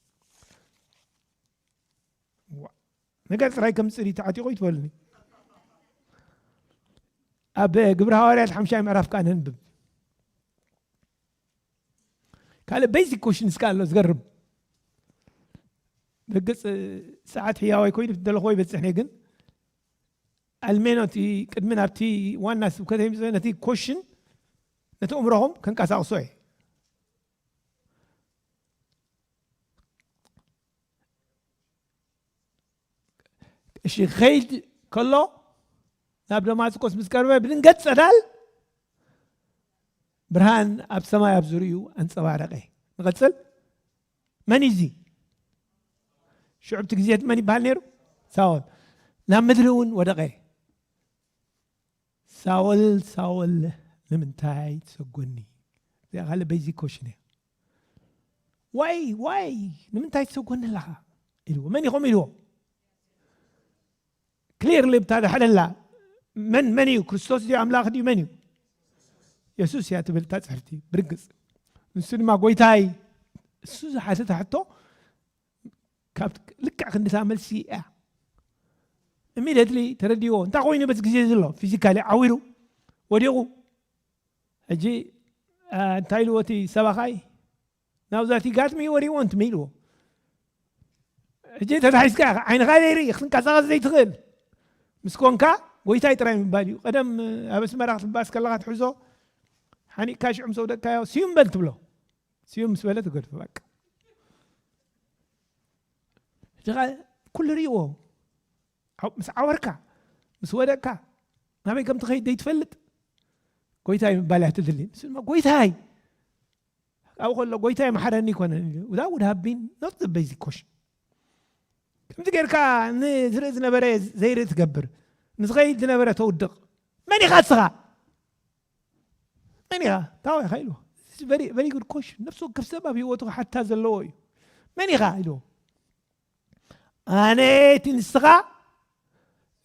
ነገር ጥራይ ከም ፅሪ ተዓጢቑ ይትበልኒ ኣብ ግብረ ሃዋርያት ሓምሻይ ምዕራፍ ከዓ ነንብብ ካልእ ቤዚክ ኮሽንስ ከዓ ኣሎ ዝገርም ብርግፅ ሰዓት ሕያዋይ ኮይኑ ደለኹዎ ይበፅሕ ነይ ግን ኣልሜኖ እቲ ቅድሚ ናብቲ ዋና ስብከተ ምፅ ነቲ ኮሽን ነቲ እምሮኹም ከንቀሳቕሶ እየ እሺ ከይድ ከሎ ናብ ደማስቆስ ምስ ቀርበ ብድንገት ጸዳል ብርሃን ኣብ ሰማይ ኣብ ዝርእዩ ኣንጸባረቀ ንቐጽል መን እዩ እዚ ሽዑብቲ ግዜት መን ይበሃል ነይሩ ሳኦል ናብ ምድሪ እውን ወደቐ ሳኦል ሳኦል ንምንታይ ትሰጎኒ እዚኣ ካልእ በይዚክ ኮሽን እያ ዋይ ዋይ ንምንታይ ትሰጎኒ ኣለኻ ኢልዎ መን ኢኹም ኢልዎ ክሊርሊ ብታድሕደላ መን መን እዩ ክርስቶስ ድዩ ኣምላኽ ድዩ መን እዩ የሱስ እያ ትብል እታ ፅሕፍቲ ብርግፅ ንሱ ድማ ጎይታይ እሱ ዝሓተተ ሕቶ ልክዕ ክንዲታ መልሲ እያ ኢሚድትሊ ተረዲዎ እንታይ ኮይኑ በዚ ግዜ ዘሎ ፊዚካሊ ዓዊሩ ወዲቑ ሕጂ እንታይ ኢልዎ እቲ ሰባኻይ ናብዛቲ ጋትሚ ወሪዎ እንትመ ኢልዎ ሕጂ ተታሒዝካ ኢኻ ዓይንኻ ዘይርኢ ክትንቀሳቐስ ዘይትኽእል ምስ ኮንካ ጎይታይ ጥራይ ምባል እዩ ቀደም ኣብ ኣስመራ ክትባስ ከለካ ትሕዞ ሓኒቕካ ሽዑም ሰውደቅካዮ ስዩም በል ትብሎ ስዩም ምስ በለ ትገድፎ በቃ ሕጂ ከ ኩሉ ርእዎ ምስ ዓወርካ ምስ ወደቅካ ናበይ ከም ትኸይድ ዘይትፈልጥ ጎይታይ ምባል እያ ትድሊ ምስ ድማ ጎይታይ ካብኡ ከሎ ጎይታይ መሓረኒ ይኮነን ኢሉ እዛ ውድ ሃቢን ኖት ዘ ቤዚክ ኮሽን ከምዚ ጌርካ ንዝርኢ ዝነበረ ዘይርኢ ትገብር ንዝኸይድ ዝነበረ ተውድቕ መን ኢኻ ንስኻ መን ኢኻ እንታይ ኢኻ ኢልዎ ቨሪ ጉድ ኮሽን ነፍሲ ወከፍ ሰብ ኣብ ሂወቱ ክሓታ ዘለዎ እዩ መን ኢኻ ኢልዎ ኣነ እቲ ንስኻ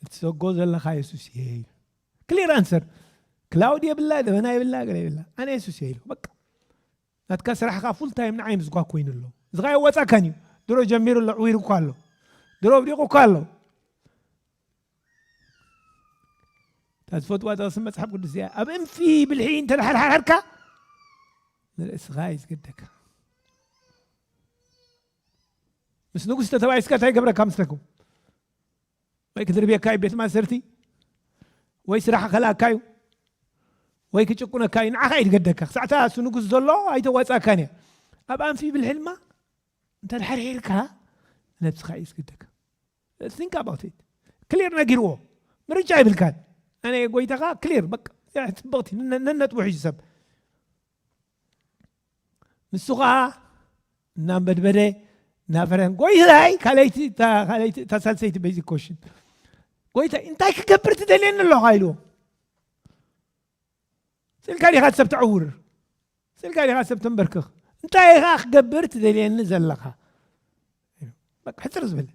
እትሰጎ ዘለኻ የሱስ እየ እዩ ክሊር ኣንሰር ክላውድ የብላ ደበና የብላ ገለ የብላ ኣነ የሱስ እየ ኢልዎ በቃ ናትካ ስራሕካ ፉል ታይም ንዓይ ምስኳ ኮይኑ ኣሎ እዚኻ የወፃካን እዩ ድሮ ጀሚሩ ኣሎ ዕዊሩ እኳ ኣሎ ድሮ ኣብዲቑ እኳ ኣሎ እታ ዝፈትዋ ጥቕሲ መፅሓፍ ቅዱስ እዚኣ ኣብ እንፊ ብልሒ እንተተሓርሓርካ ንርእስኻ እዩ ዝገደካ ምስ ንጉስ ተተባይስካ እንታይ ገብረካ ምስለኩ ወይ ክድርብየካ እዩ ቤት ማእሰርቲ ወይ ስራሕ ከላካ እዩ ወይ ክጭቁነካ እዩ ንዓኻ እዩ ዝገደካ ክሳዕታ እሱ ንጉስ ዘሎ ኣይተዋፃካን እያ ኣብ ኣንፊ ብልሒ ድማ እንተተሓርሒርካ ነብስኻ እዩ ዝገደካ think about it ክሊር ነጊርዎ ምርጫ ይብልካን ኣነ ጎይታኻ ክሊር በቃ ፅብቕቲ ነነጥቡ ሒዙ ሰብ ንሱ ከዓ እናንበድበደ እናፈረን ጎይታይ ካለይቲ እታ ሳልሰይቲ በዚ ኮሽን ጎይታይ እንታይ ክገብር ትደልየኒ ኣለኻ ኢልዎ ስልካ ዲኻ ሰብ ተዕውር ስእልካ ዲኻ ሰብ ተምበርክኽ እንታይ ኢኻ ክገብር ትደልየኒ ዘለኻ ሕፅር ዝብል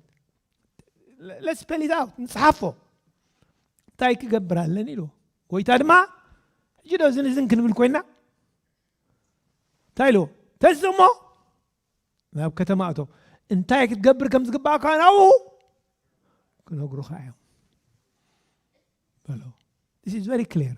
ለስፐሊት ኣውት ንፅሓፎ እንታይ ክገብር ኣለኒ ኢልዎ ጎይታ ድማ ሕጂ ዶ እዝን እዝን ክንብል ኮይና እንታይ ኢልዎ ተስ እሞ ናብ ከተማ እቶ እንታይ ክትገብር ከም ዝግባእካ ናብኡ ክነግሩኻ እዮም በሎ ስ ቨሪ ክሊር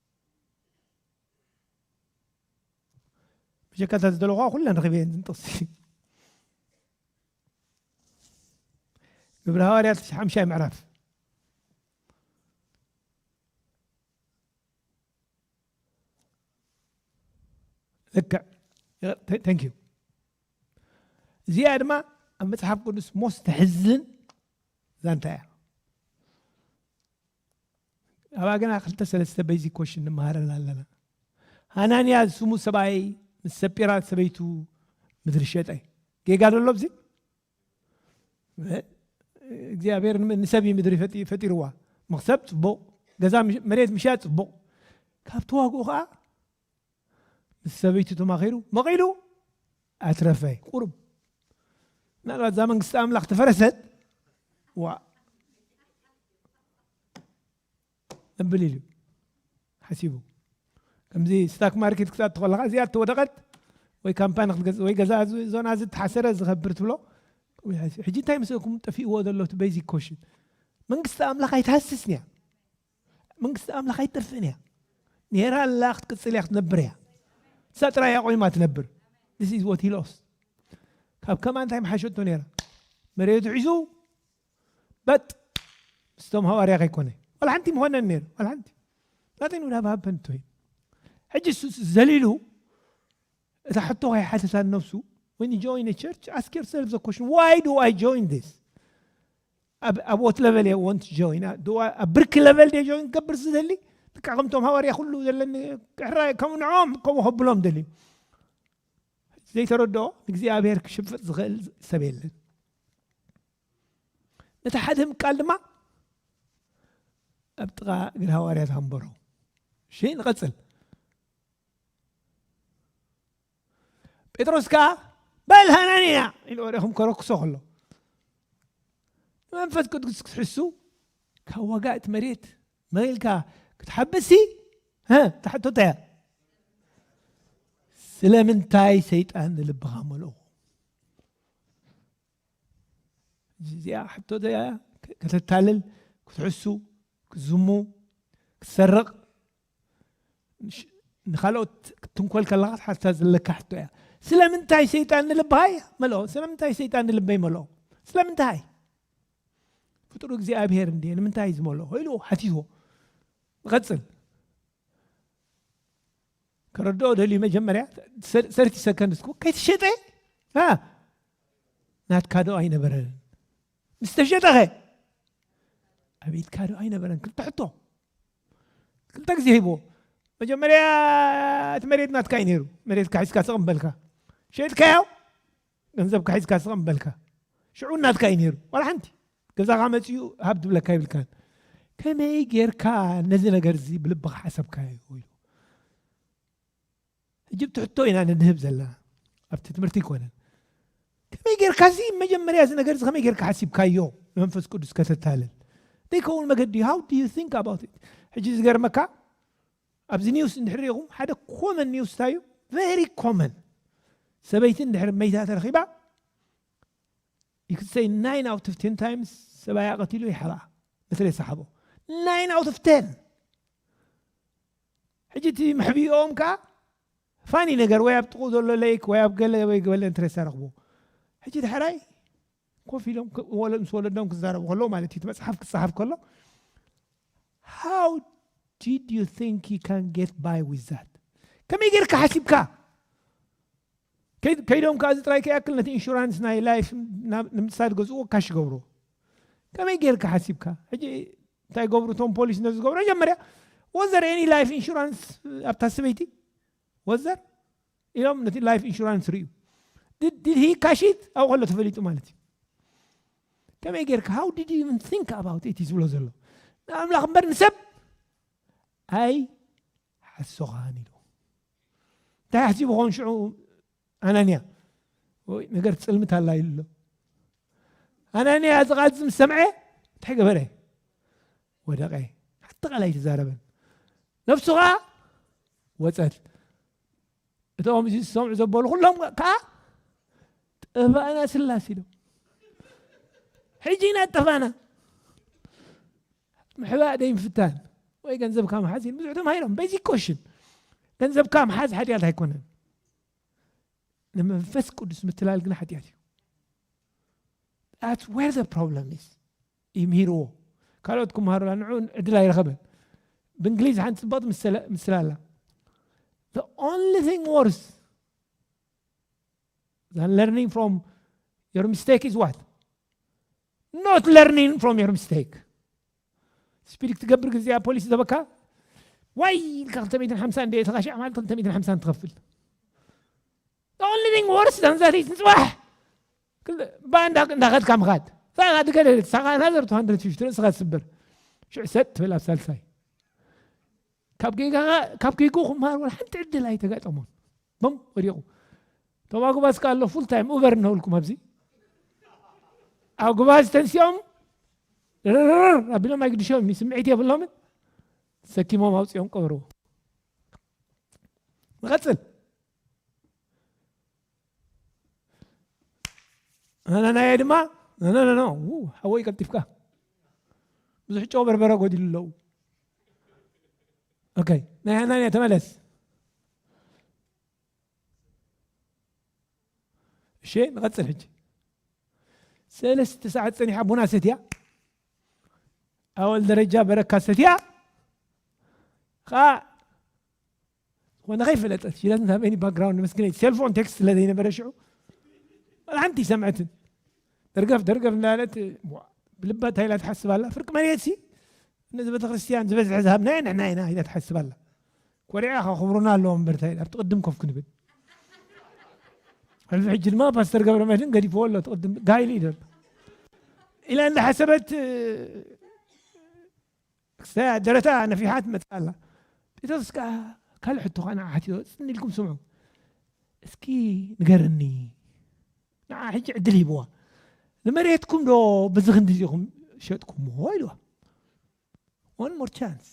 ብጀካ እታ ዝደለኹዋ ኩለን ረኺበ እየን ዝንጥቕሲ ግብረ ሃዋርያት ሓምሻይ ምዕራፍ ልክዕ ተንክ ዩ እዚኣ ድማ ኣብ መፅሓፍ ቅዱስ ሞስ ተሕዝን ዛንታ እያ ኣባግና ክልተ ሰለስተ በይዚክ ኮሽን ንመሃረን ኣለና። ሃናንያ ዝስሙ ሰብኣይ ምስ ሰጲራ ሰበይቱ ምድሪ ሸጠ። ጌጋ ዶ ኣሎ ኣብዚ? እግዚኣብሔር ንሰብ እዩ ምድሪ ፈጢርዋ። መኽሰብ ጽቡቕ፣ ገዛ መሬት ምሻጥ ጽቡቕ። ካብ ተዋግኡ ከዓ ምስ ሰበይቱ ተማኺሩ መቒሉ ኣትረፈ ቁሩብ ምናልባት እዛ መንግስቲ ኣምላኽ ተፈረሰት ዋእ ነብል ኢሉ ሓሲቡ ከምዚ ስታክ ማርኬት ክትኣቱ ከለካ እዚኣ ተወደቐት ወይ ካምፓኒ ክትገዝእ ወይ ገዛ ዞና እዚ ተሓሰረ ዝኸብር ትብሎ ሕጂ እንታይ ምስእኩም ጠፊእዎ ዘሎ እቲ ቤዚክ ኮሽን መንግስቲ ኣምላኽ ኣይትሃስስን እያ መንግስቲ ኣምላኽ ኣይትጠፍእን እያ ኔራ ኣላ ክትቅፅል እያ ክትነብር እያ እሳ ጥራይ እያ ቆይማ ትነብር ስ ኢዝ ወት ሂሎስ ካብ ከማ እንታይ መሓሸቶ ነይራ መሬቱ ሒዙ በጥ ምስቶም ሃዋርያ ከይኮነ ዋላ ሓንቲ ምኾነን ነይሩ ዋላ ሓንቲ ናተይ ንዳ ባሃበንቶ እዩ ሕጂ ዘሊሉ እታ ሕቶ ከይሓተታ ነብሱ when you join a church ask yourself the question why do I join this ኣብ ኣብ ወት ለቨል እየ ወንት ጆይን ድዋ ኣብ ብርኪ ለቨል ደ ጆይን ክገብር ዝደሊ ብቃ ከምቶም ሃዋርያ ኩሉ ዘለኒ ሕራይ ከም ንዖም ከምኡ ከብሎም ደልዩ ዘይተረድኦ ንእግዚኣብሔር ክሽፍጥ ዝኽእል ሰብ የለን ነቲ ሓደ ምቃል ድማ ኣብ ጥቓ እግሪ ሃዋርያት ኣንበሮ እሺ ንቐፅል ጴጥሮስ ከኣ በል ሃናንያ ኢሉ ወዲኹም ከረክሶ ከሎ ንመንፈስ ቅዱስ ክትሕሱ ካብ ዋጋ እቲ መሬት መኢልካ ክትሓብሲ ተሓቶታ እያ ስለምንታይ ሰይጣን ንልብኻ መልእኹ እዚኣ ሕቶ እያ ከተታልል ክትሕሱ ክትዝሙ ክትሰርቕ ንካልኦት ክትንኮል ከለካ ትሓትታ ዘለካ ሕቶ እያ ስለምንታይ ሰይጣን ንልብሃይ መልኦ ስለምንታይ ሰይጣን ንልበይ መልኦ ስለምንታይ ፍጡሩ እግዚኣብሄር እንዲ ንምንታይ ዝመልኦ ኢሉ ሓቲትዎ ንቐፅል ከረድኦ ደልዩ መጀመርያ ሰርቲ ሰከንድ እስኩ ከይትሸጠ ናትካ ዶ ኣይነበረን ምስ ተሸጠኸ ኣቤትካዶ ኣይነበረን ክልተ ሕቶ ክልተ ግዜ ሂቦ መጀመርያ እቲ መሬት ናትካ እዩ ነይሩ መሬት ካሒዝካ ስቕም በልካ ሸጥካዮ ገንዘብ ካሒዝካ ስቕም በልካ ሽዑ ናትካ እዩ ነይሩ ዋላ ሓንቲ ገዛኻ መፅኡ ሃብ ትብለካ ይብልካን ከመይ ጌርካ ነዚ ነገር እዚ ብልብኻ ሓሰብካዮ ኢሉ ሕጂ እቲ ሕቶ ኢና ንድህብ ዘለና ኣብቲ ትምህርቲ ኣይኮነን ከመይ ጌርካ እዚ መጀመርያ እዚ ነገር እዚ ከመይ ጌርካ ሓሲብካዮ ንመንፈስ ቅዱስ ከተታልል ዘይከውን መገዲ ሃው ዱ ዩ ቲንክ ኣባውት ኢት ሕጂ ዝገርመካ ኣብዚ ኒውስ እንድሕር ሪኢኹም ሓደ ኮመን ኒውስ እንታይ እዩ ቨሪ ኮመን ሰበይቲ እንድሕር መይታ ተረኺባ ይክሰይ ናይን ኣውት ኦፍ ቴን ታይምስ ሰብኣያ ቀቲሉ ይሓብኣ መትረየ ሰሓቦ ናይን ኣውት ኦፍ ቴን ሕጂ እቲ መሕብኢኦም ከኣ ፋኒ ነገር ወይ ኣብ ጥቕኡ ዘሎ ለይክ ወይ ኣብ ገለ ወይ ገለ እንተ ዝተረኽቡ ሕጂ ዳሕራይ ኮፍ ኢሎም ምስ ወለዶም ክዛረቡ ከለዉ ማለት እዩ እቲ መጽሓፍ ክጸሓፍ ከሎ how did you think he can get by with that ከመይ ጌርካ ሓሲብካ ከይዶም ከዓ እዚ ጥራይ ከይኣክል ነቲ ኢንሹራንስ ናይ ላይፍ ንምሳድ ገዝኡ ካሽ ገብሮ ከመይ ጌርካ ሓሲብካ ሕጂ እንታይ ገብሩ እቶም ፖሊስ ነዚ ዝገብሮ መጀመርያ ወዘር ኤኒ ላይፍ ኢንሹራንስ ኣብታ ሰበይቲ ወዘር ኢሎም ነቲ ላይፍ ኢንሹራንስ ርዩ ዲድ ሂ ካሺት ኣብኡ ከሎ ተፈሊጡ ማለት እዩ ከመይ ጌርካ ሃው ዲድ ኢቨን ቲንክ ኣባውት ኢት ዝብሎ ዘሎ ንኣምላኽ እምበር ንሰብ ኣይ ሓሶኻን ኢሉ እንታይ ሓሲቡ ኾን ሽዑ ኣናንያ ወይ ነገር ፅልምት ኣላ ኢሉ ኣሎ ኣናንያ እዚ ቃል ምስ ሰምዐ እንታይ ገበረ ወደቀ ሓቲ ቃል ኣይተዛረበን ነፍሱ ከዓ ወፀት እቶም እዚ ዝሰምዑ ዘበሉ ኩሎም ከዓ ጠፋእና ስላስ ኢሎም ሕጂ ኢና ጠፋእና ምሕባእ ዘይምፍታን ወይ ገንዘብካ ምሓዝ ኢሉ ብዙሕ ተማሂሮም በዚ ኮሽን ገንዘብካ ምሓዝ ሓጢኣት ኣይኮነን ንመንፈስ ቅዱስ ምትላል ግን ሓጢኣት እዩ ዳት ወር ዘ ፕሮብለም ኢዝ እዩ ምሂርዎ ካልኦት ክምሃሩላ ንዑ ዕድል ኣይረኸበን ብእንግሊዝ ሓንቲ ፅባቕ ምስላ ኣላ the only thing worse than learning from your mistake is what not learning from your mistake ስፒድ ክትገብር ግዜ ኣብ ፖሊስ ዘበካ ዋይ ኢልካ 250 እንደ ተካሻ ማለት 250 ትኸፍል The only thing worse than that is ንፅባሕ ባእ እንዳኸድካ ምኻድ ሳኻ ድገደ ሳኻ ናዘር 250 ርእስኻ ትስብር ሽዑ ሰጥ ትብል ኣብ ሳልሳይ ካብ ጌጋኻ ካብ ጌጉ ክምሃር ወላ ሓንቲ ዕድል ኣይተጋጠሞን በም ወዲቑ እቶም ኣጉባዝ ከዓ ኣሎ ፉል ታይም ኡበር እነብልኩም ኣብዚ ኣጉባዝ ተንሲኦም ርርር ኣቢሎም ኣይግድሾም እዩ ስምዒት የብሎምን ሰኪሞም ኣውፅኦም ቀበርዎ ንቐፅል ናናናየ ድማ ነነነኖ ሓወይ ቀልጢፍካ ብዙሕ ጨው በርበረ ጎዲሉ ኣለዉ ኦኬ ናይ ሃናንያ ተመለስ እሺ ንቐፅል ሕጂ ሰለስተ ሰዓት ፀኒሓ ቡና ሰትያ ኣወል ደረጃ በረካ ሰትያ ከዓ ዝኾነ ከይፈለጠት ሽለት ናበይኒ ባክግራውንድ መስግነይ ሴልፎን ቴክስት ስለዘይነበረ ሽዑ ሓንቲ ሰምዐትን ደርገፍ ደርገፍ እንዳለት ብልባ እንታይ ኢላ ትሓስብ ኣላ ፍርቂ መሬት ሲ ነዚ ቤተክርስትያን ዝበዝሐ ዝሃብናዮ ንሕና ኢና ኢላ ትሓስብ ኣላ ኮሪዓ ከኽብሩና ኣለዎም እምበር እንታይ ኣብቲ ቅድም ኮፍ ክንብል ሕልፊ ሕጂ ድማ ፓስተር ገብረ መድህን ገዲፍዎ ኣሎ እቲ ቅድም ጋይሉ እዩ ዘሎ ኢላ እንዳሓሰበት ክሳያ ደረታ ነፊሓ ትመጽእ ኣላ። ጴጥሮስ ከኣ ካልእ ሕቶ ከኣ ንዓ ሓቲቶ፣ ጽን ኢልኩም ስምዑ። እስኪ ንገረኒ፣ ንዓ ሕጂ ዕድል ሂብዋ፣ ንመሬትኩም ዶ በዚ ክንድዚ ኢኹም ሸጥኩምዎ ኢልዋ። one more chance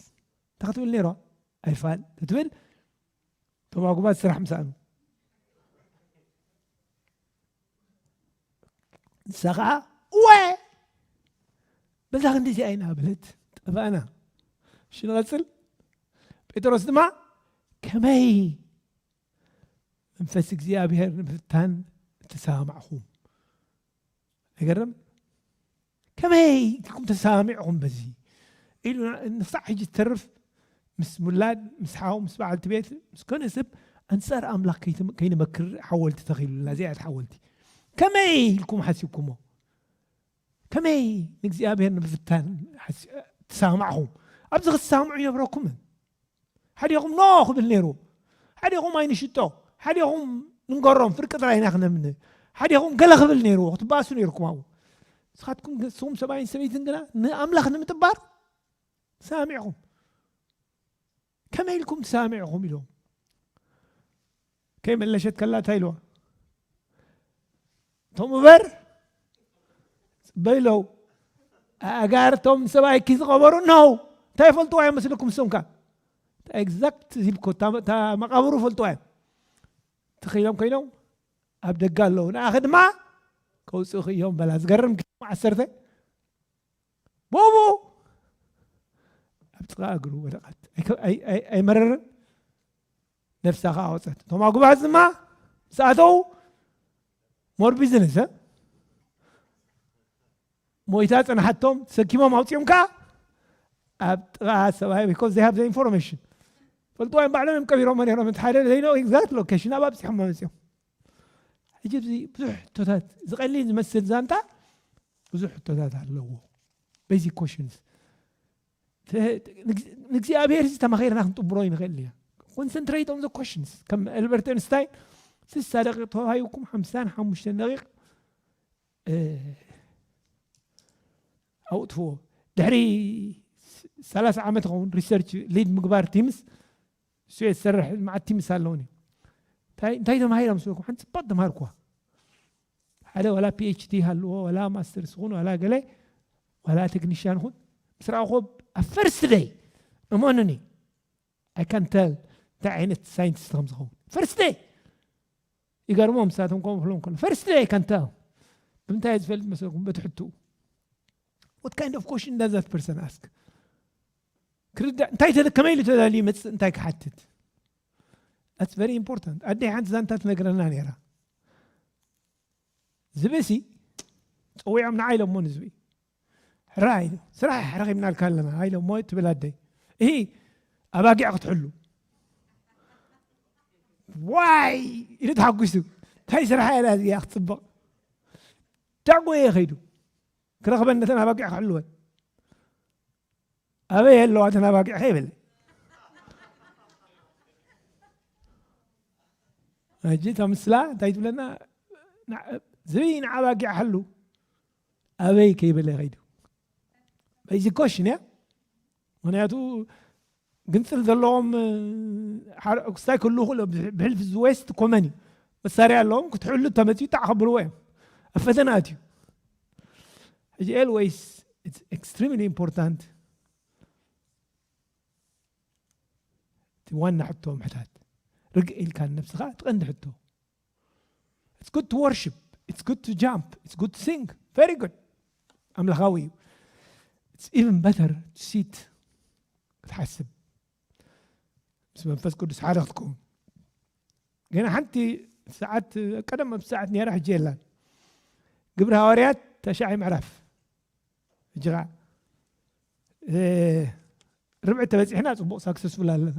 እንተ ክትብል ነይራ ኣይፋል ትብል እቶም ኣጉባዝ ስራሕ ምስኣኑ ንሳ ከዓ ወ በዛ ክንዲ እዚኣ ኢና በለት ጠፋእና እሺ ንቐፅል ጴጥሮስ ድማ ከመይ መንፈስ እግዚኣብሔር ንምፍታን እተሰማማዕኹም ነገርም ከመይ ኢልኩም ተሰማሚዕኹም በዚ ኢሉና ንክሳዕ ሕጂ ዝተርፍ ምስ ሙላድ ምስ ሓው ምስ በዓልቲ ቤት ምስ ኮነ ሰብ ኣንፃር ኣምላኽ ከይንመክር ሓወልቲ ተኺሉልና እዚኣት ሓወልቲ ከመይ ኢልኩም ሓሲብኩሞ ከመይ ንእግዚኣብሔር ንምፍታን ተሰማዕኹም ኣብዚ ክትሰማምዑ ይነብረኩምን ሓዲኹም ኖ ክብል ነይሩ ሓዲኹም ኣይንሽጦ ሓዲኹም ንንገሮም ፍርቂ ጥራይ ኢና ክነምነ ሓዲኹም ገለ ክብል ነይርዎ ክትባእሱ ነይርኩም ኣብኡ ንስኻትኩም ንስኹም ሰብኣይን ሰበይትን ግና ንኣምላኽ ንምጥባር ሰሚዕኹም ከመይ ኢልኩም ትሰሚዕኹም ኢሎም ከይመለሸት ከላ እንታይ ኢልዋ እቶም እበር ጽበይለው ኣእጋርቶም ሰብኣይኪ ዝቐበሩ ነው እንታይ ፈልጥዋ እዮም መስልኩም እሶም ከ ኤግዛክት ዚብኮ እታ መቓብሩ ፈልጥዋ እዮም ትኽኢሎም ኮይኖም ኣብ ደጋ ኣለዉ ንኣኸ ድማ ከውፅእኺ እዮም በላ ዝገርም ዓሰርተ ብኡ ኣብ ጥቓ እግሩ ወደቓት ኣይመረርን ነፍሳ ከኣ ወጸት እቶም ኣጉባዝ ድማ ምስ ኣተው ሞር ቢዝነስ ሞይታ ጽንሓቶም ተሰኪሞም ኣውጺኦም ከኣ ኣብ ጥቓ ሰብኣይ ቢኮዝ ዘይ ሃብ ዘ ኢንፎርሜሽን ፈልጥዋ እዮም ባዕሎም እዮም ቀቢሮሞ ነሮም እቲ ሓደ ዘይኖ ኤግዛክት ሎኬሽን ኣብ ኣብፂሖሞ መፅኦም ሕጂ እዚ ብዙሕ ሕቶታት ዝቀሊል ዝመስል ዛንታ ብዙሕ ሕቶታት ኣለዎ ቤዚክ ኮሽንስ ንእግዚኣብሔር ዝተማኺርና ክንጥብሮ ይንኽእል ኢና ኮንሰንትሬት ኦን ዘ ኮሽንስ ከም ኣልበርት ኣንስታይን ስሳ ደቂቕ ተዋሂብኩም ሓምሳን ሓሙሽተን ደቂቕ ኣውጥፍዎ ድሕሪ ሰላሳ ዓመት ይኸውን ሪሰርች ሊድ ምግባር ቲምስ ንሱ እየ ዝሰርሕ መዓት ቲምስ ኣለውኒ እንታይ እንታይ ተማሂሮም ስበኩም ሓንቲ ፅባቅ ተማሃርኩዋ ሓደ ዋላ ፒኤችዲ ሃልዎ ዋላ ማስተርስ ይኹን ዋላ ገለ ዋላ ቴክኒሽያን ይኹን ምስ ረኣኹ ኣብ ፈርስት ደይ እመኑኒ ኣይ ካን ተል እንታይ ዓይነት ሳይንቲስት ከም ዝኸውን ፈርስት ደይ ይገርሞም ንሳቶም ከምኡ ክብሎም ከሎ ፈርስት ደይ ከንታ ብምንታይ ዝፈልጥ መሰልኩም በቲ ሕትኡ ወት ካይንድ ኦፍ ኮሽን ዳዝ ዛት ፐርሰን ኣስክ ክርዳእ እንታይ ከመይ ኢሉ ተዳልዩ ይመፅእ እንታይ ክሓትት ኣትስ ቨሪ ኢምፖርታንት ኣደይ ሓንቲ ዛንታ ትነግረና ነይራ ዝብሲ ፀዊዖም ንዓ ኢሎሞ ንዝቢ ሕራይ ስራሕ ረኺብናልካ ኣለና ሃይለ እሞ ትብል ኣደይ እሂ ኣባጊዕ ክትሕሉ ዋይ ኢሉ ተሓጒሱ እንታይ ስራሕ እያ እዚኣ ክትፅብቕ ዳዕጎ እየ ከይዱ ክረኽበን ነተን ኣባጊዕ ክሕልወን ኣበይ ኣለዋ እተን ኣባጊዕ ከይበለ ሕጂ እታ ምስላ እንታይ ትብለና ዝብኢ ንዓባጊዕ ሓሉ ኣበይ ከይበለ ከይዱ በይዚ ኮሽ ኒያ ምክንያቱ ግንፅል ዘለዎም ክስታይ ክህልው ክእሎ ብሕልፊ ዝዌስት ኮመን እዩ መሳርያ ኣለዎም ክትሕሉ ተመፅኡ ጣዕ ከብልዎ እዮም ኣብ ፈተና ኣትዩ ሕጂ ኤልወይስ ኤክስትሪምሊ ኢምፖርታንት እቲ ዋና ሕቶ ምሕታት ርግእ ኢልካ ንነብስኻ ትቐንዲ ሕቶ ኢትስ ጉድ ቱ ወርሺፕ ኢትስ ጉድ ቱ ጃምፕ ኢትስ ጉድ ቱ ሲንግ ቨሪ ጉድ ኣምላኻዊ እዩ ኢትስ ኢቨን በተር ቱ ሲት ክትሓስብ ምስ መንፈስ ቅዱስ ሓደ ክትከውን ገና ሓንቲ ሰዓት ቀደም ኣብ ሰዓት ነራ ሕጂ የላን ግብሪ ሃዋርያት ተሻዓይ ምዕራፍ ሕጂ ከዓ ርብዒ ተበፂሕና ፅቡቅ ሳክሰስፉል ኣለና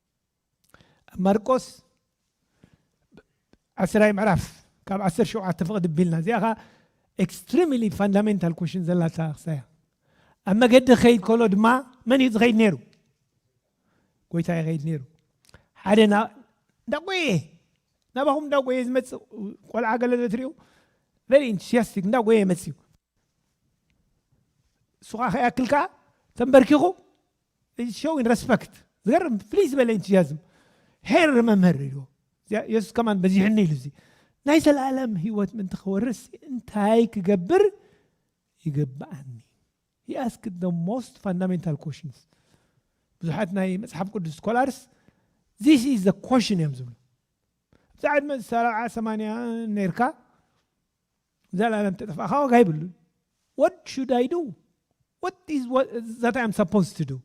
ኣብ ማርቆስ ዓስራይ ምዕራፍ ካብ ዓሰርተ ሸውዓተ ፍቕድ ኣቢልና እዚኣ ኸዓ ኤክስትሪምሊ ፋንዳሜንታል ኮሽን ዘላታ ክሳ እያ ኣብ መገዲ ክኸይድ ከሎ ድማ መን እዩ ዝኸይድ ነይሩ ጎይታ ይኸይድ ነይሩ ሓደ እንዳጎየ ናባኹም እንዳጎየ ዝመፅእ ቆልዓ ገለ ዘትሪኡ ቨሪ ኢንቱስያስቲክ እንዳጎየ መፅዩ እሱ ከዓ ከይኣክል ከዓ ተንበርኪኹ ኢዝ ሾዊንግ ረስፐክት ዝገርም ፍልይ ዝበለ ኢንቱዝያዝም ሄር መምህር ኢልዎ የሱስ ከማን በዚሕኒ ኢሉ እዚ ናይ ዘላለም ህይወት ምንቲ ክወርስ እንታይ ክገብር ይግብኣኒ he asked the most fundamental questions ብዙሓት ናይ መጽሓፍ ቅዱስ ኮላርስ ዚስ ኢዝ ዘ ኮሽን እዮም ዝብሉ ኣብዛ ዕድመ ሰብዓ ሰማንያ ነርካ ዘላለም ተጠፋእካ ዋጋ የብሉን what should I do what is what that I am supposed to do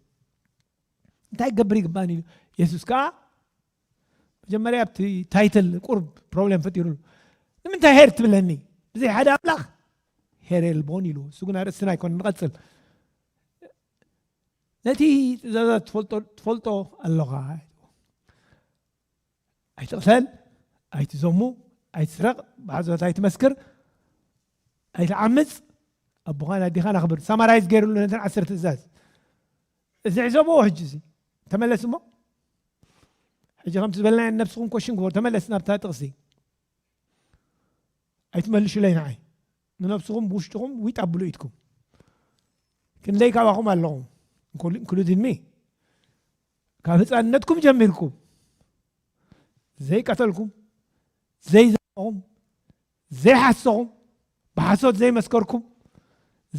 እንታይ ክገብር ይግባእኒ ኢሉ የሱስ ከዓ መጀመርያ ኣብቲ ታይትል ቁርብ ፕሮብሌም ፈጢሩሉ ንምንታይ ሄር ትብለኒ ብዘይ ሓደ ኣምላኽ ሄር የልቦን ኢሉ እሱ ግን ኣርእስትና ኣይኮነ ንቐፅል ነቲ ትእዛዛት ትፈልጦ ኣለኻ ኣይትቕተል፣ ኣይትዘሙ፣ ኣይትስረቕ፣ ብሓሶት ኣይትመስክር፣ ኣይትዓምፅ፣ ኣቦኻን ኣዴኻን ኣኽብር ሳማራይዝ ገይርሉ ነተን ዓሰርተ ትእዛዝ እዚ ዕዘብዎ ሕጂ እዚ ተመለስ እሞ ሕጂ ከምቲ ዝበልናዮ ነብስኹም ኮሽን ግበሩ ተመለስ ናብታ ጥቕሲ ኣይትመልሹለይ ንዓይ ንነብስኹም ብውሽጥኹም ዊጥ ኣብሉ ኢድኩም ክንደይ ካባኹም ኣለኹም እንክሉድን ሚ ካብ ህፃንነትኩም ጀሚርኩም ዘይቀተልኩም ዘይዘረኹም ዘይሓሰኹም ብሓሶት ዘይመስከርኩም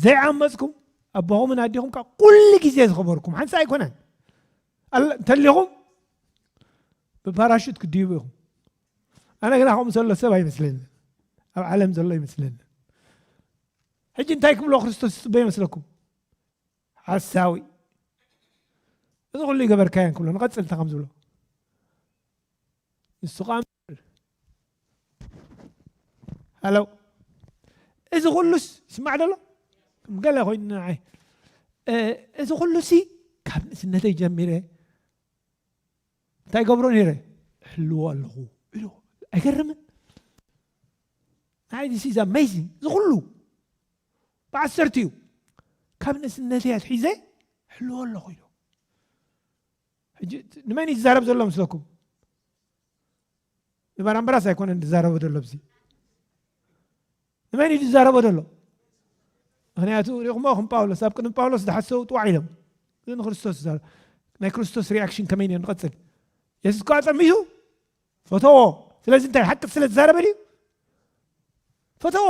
ዘይዓመፅኩም ኣቦኹምን ኣዴኹም ካብ ኩሉ ግዜ ዝኸበርኩም ሓንሳ ኣይኮነን እንተሊኹም ብፓራሹት ክድይቡ ኢኹም ኣነ ግና ከምኡ ዘሎ ሰብ ኣይመስለኒ ኣብ ዓለም ዘሎ ይመስለኒ ሕጂ እንታይ ክብሎ ክርስቶስ ዝፅበ ይመስለኩም ሓሳዊ እዚ ኩሉ ይገበርካዮ እንክብሎ ንቐጽል እንታይ ከም ዝብሎ ንሱ ከዓ ሃለው እዚ ኩሉስ ይስማዕ ደሎ ከም ገለ ኮይኑ ንዓይ እዚ ኩሉሲ ካብ ንእስነተይ ጀሚረ እንታይ ገብሮ ነይረ ሕልዎ ኣለኹ ኢሉ ኣይገርምን ንዓይ ዚስ ኢዝ ኣሜዚንግ እዚ ኩሉ ብዓሰርቲኡ ካብ ንእስነተይ ኣትሒዘ ሕልዎ ኣለኹ ኢሉ ሕጂ ንመን እዩ ዝዛረብ ዘሎ ምስለኩም ንባራምበራስ ኣይኮነን ዝዛረቦ ዘሎ ብዚ ንመን እዩ ዝዛረቦ ዘሎ ምክንያቱ ሪኹሞ ከም ጳውሎስ ኣብ ቅድሚ ጳውሎስ ዝሓሰቡ ጥዋዕ ኢሎም እዚ ንክርስቶስ ዝዛረብ ናይ ክርስቶስ ሪኣክሽን ከመይ ነር ንቐፅል የሱስ ከዓ ፀሚቱ ፈተዎ ስለዚ እንታይ ሓቂ ስለ ዝዛረበ ድዩ ፈተዎ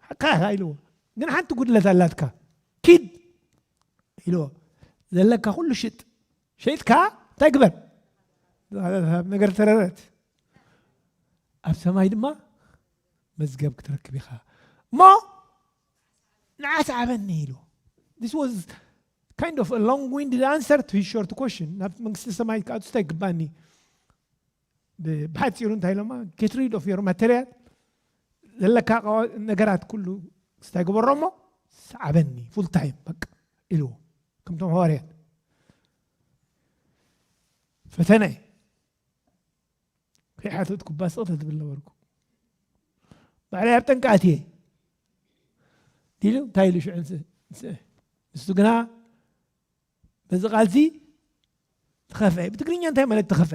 ሓቃኻ ኢልዎ ግን ሓንቲ ጉድለት ኣላትካ ኪድ ኢልዎ ዘለካ ኩሉ ሽጥ ሸይጥካ እንታይ ግበር ነገር ተረረት ኣብ ሰማይ ድማ መዝገብ ክትረክብ ኢኻ እሞ ንዓስ ዓበኒ ኢሉ this was kind of a long winded answer to his short question ናብ መንግስቲ ሰማይ ክኣቱ እንታይ ይግባኒ ብሓፂሩ እንታይ ኢሎማ ጌት ሪድ ኦፍ ዮር ማተርያል ዘለካ ነገራት ኩሉ ስታይ ግበሮ እሞ ሰዓበኒ ፉል ታይም በቃ ኢልዎ ከምቶም ሃዋርያት ፈተነ ከይሓተትኩ ባስቕ ተትብል ነበርኩ ባዕለይ ኣብ ጠንቃኣት እየ ኢሉ እንታይ ኢሉ ሽዑ ንሱ ግና በዚ ቃልሲ ተኸፈ ብትግርኛ እንታይ ማለት ተኸፈ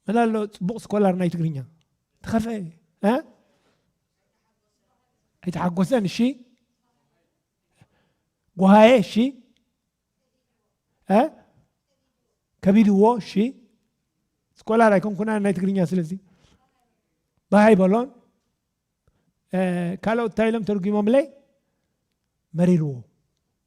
መላ ኣሎ ፅቡቕ ስኮላር ናይ ትግርኛ ተኸፈ ኣይተሓጎሰን እሺ ጓሃየ እሺ ከቢድዎ እሺ ስኮላር ኣይኮንኩና ናይ ትግርኛ ስለዚ ባሃይ በሎን ካልኦት እንታይ ኢሎም ተርጒሞምለይ መሪርዎ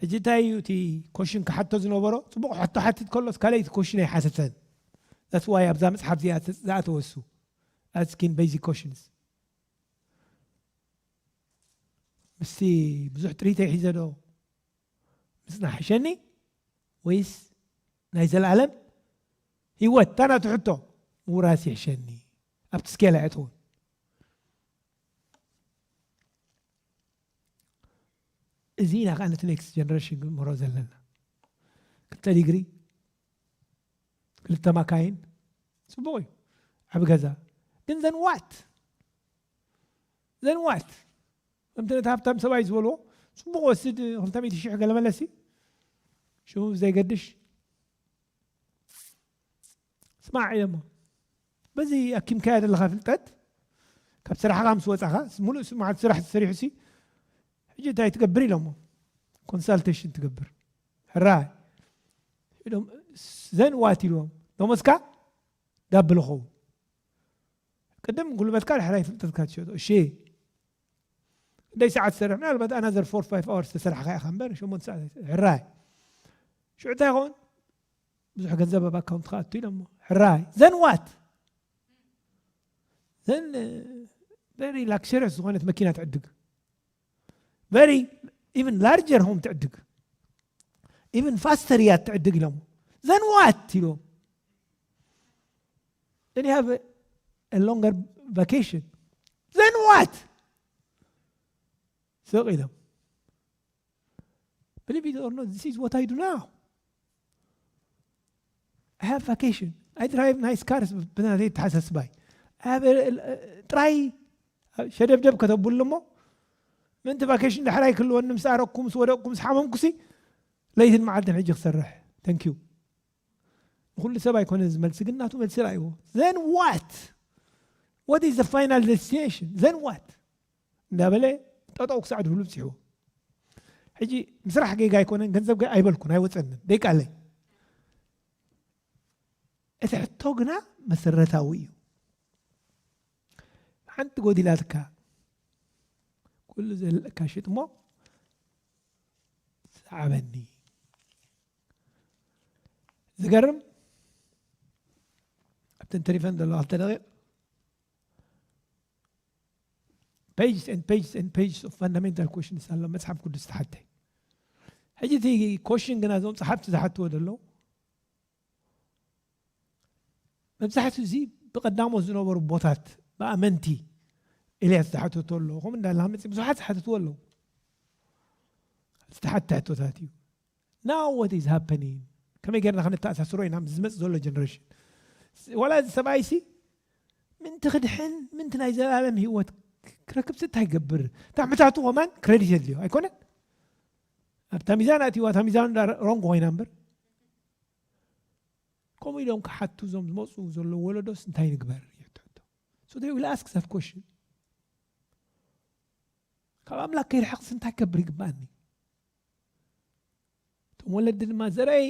ሕጂ እንታይ እዩ እቲ ኮሽን ክሓቶ ዝነበሮ ጽቡቅ ሕቶ ሓቲት ከሎስ ካልኣይቲ ኮሽን ኣይሓተተን that's why ኣብዛ መጽሓፍ እዚኣ ዝኣተወ እሱ asking basic questions ምስቲ ብዙሕ ጥሪተይ ሒዘ ዶ ምጽናሕ ሕሸኒ ወይስ ናይ ዘለኣለም ህይወት እታ ናቱ ሕቶ ምውራስ ይሕሸኒ ኣብቲ ስኬል ኣይኣተውን እዚ ኢና ከኣ ነቲ ኔክስት ጀነሬሽን ክንምህሮ ዘለና። ክልተ ዲግሪ፣ ክልተ ማካይን ጽቡቕ እዩ፣ ዓቢ ገዛ ግን ዘን ዋት? ዘን ዋት? ከምቲ ነቲ ሃብታም ሰብኣይ ዝበልዎ ጽቡቕ ወስድ ክልተ ሚእቲ ሽሕ ገለ መለሲ ሽሙ ብዘይገድሽ ስማዕ ኢለሞ በዚ ኣኪምካያ ዘለኻ ፍልጠት ካብ ስራሕኻ ምስ ወፃኻ ሙሉእ መዓልቲ ስራሕ ተሰሪሑሲ ሕጂ እንታይ ትገብር ኢለሞ ኮንሳልቴሽን ትገብር ሕራይ ኢሎም ዘን ዋት ኢልዎም ደሞዝካ ዳብል ኸውን ቅድም ጉልበትካ ድሕራይ ፍልጠትካ ትሸጦ እሺ ደይ ሰዓት ትሰርሕ ምናልባት ኣናዘር ፎር ፋይቭ ኣወርስ ተሰርሕካ ኢኻ እምበር ሸሞንተ ሰዓት ሕራይ ሽዑ እንታይ ይኸውን ብዙሕ ገንዘብ ኣብ ኣካውንት ክኣቱ ኢሎሞ ሕራይ ዘን ዋት ዘን ቨሪ ላክሸሪስ ዝኾነት መኪና ትዕድግ ቨሪ ኢቨን ላርጀር ሆም ትዕድግ ኢቨን ፋስተር እያ ትዕድግ ኢሎሞ ዘን ዋት ኢሎም then you have a, a longer vacation then what ስቕ ኢሎም Believe it or not, this is what I do now. I have vacation. I drive nice cars ብና ዘይተሓሳስባይ ጥራይ ሸደብደብ ከተብሉ እሞ ምእንቲ ቫኬሽን ዳሕራይ ክህልወኒ ምስ ኣረኩ ምስ ወደቕኩ ምስ ሓመምኩሲ ለይትን መዓልትን ሕጂ ክሰርሕ ተንክዩ ንኩሉ ሰብ ኣይኮነ ዝመልሲ ግን ናቱ መልሲ ርኣይዎ ዘን ዋት ዋት ኢዝ ፋይናል ደስቲኔሽን ዘን ዋት እንዳበለ ጠጠው ክሳዕ ድብሉ ብጺሕዎ ሕጂ ምስራሕ ጌጋ ኣይኮነን ገንዘብ ገ ኣይበልኩን ኣይወፀንን ደይቃለይ እቲ ሕቶ ግና መሰረታዊ እዩ ሓንቲ ጎዲላትካ ኩሉ ዘለካ ሽጥ እሞ ሰዓበኒ ዝገርም ኣብተን ተሪፈን ዘለዋ ክልተ ደቂቕ pages and pages and pages of fundamental questions ኣሎ መጽሓፍ ቅዱስ ዝተሓተ ሕጂ እቲ ኮሽን ግና እዞም ጸሓፍቲ ዝሓትዎ ዘለዉ መብዛሕትኡ እዚ ብቐዳሞት ዝነበሩ ቦታት ብኣመንቲ ኤልያስ ዝሓተቶ ኣሎ ከምኡ እንዳላ መፅእ ብዙሓት ዝሓተትዎ ኣለዉ ዝተሓተ ሕቶታት እዩ ናው ዋት ኢዝ ሃፐኒንግ ከመይ ጌርና ከነተኣሳስሮ ኢና ምስ ዝመጽእ ዘሎ ጀነሬሽን ዋላ እዚ ሰብኣይሲ ምንቲ ክድሕን ምንቲ ናይ ዘላለም ህይወት ክረክብሲ እንታይ ይገብር እታ ሕታቱ ከማን ክረዲት የድልዮ ኣይኮነን ኣብታ ሚዛን ኣትዋ እታ ሚዛን ሮንግ ኮይና እምበር ከምኡ ኢሎም ክሓቱ እዞም ዝመፁ ዘሎ ወለዶስ እንታይ ንግበር So they will ask that question. ካብ ኣምላክ ከይርሕቕስ እንታይ ከብር ይግባኣኒ እቶም ወለዲ ድማ ዘረይ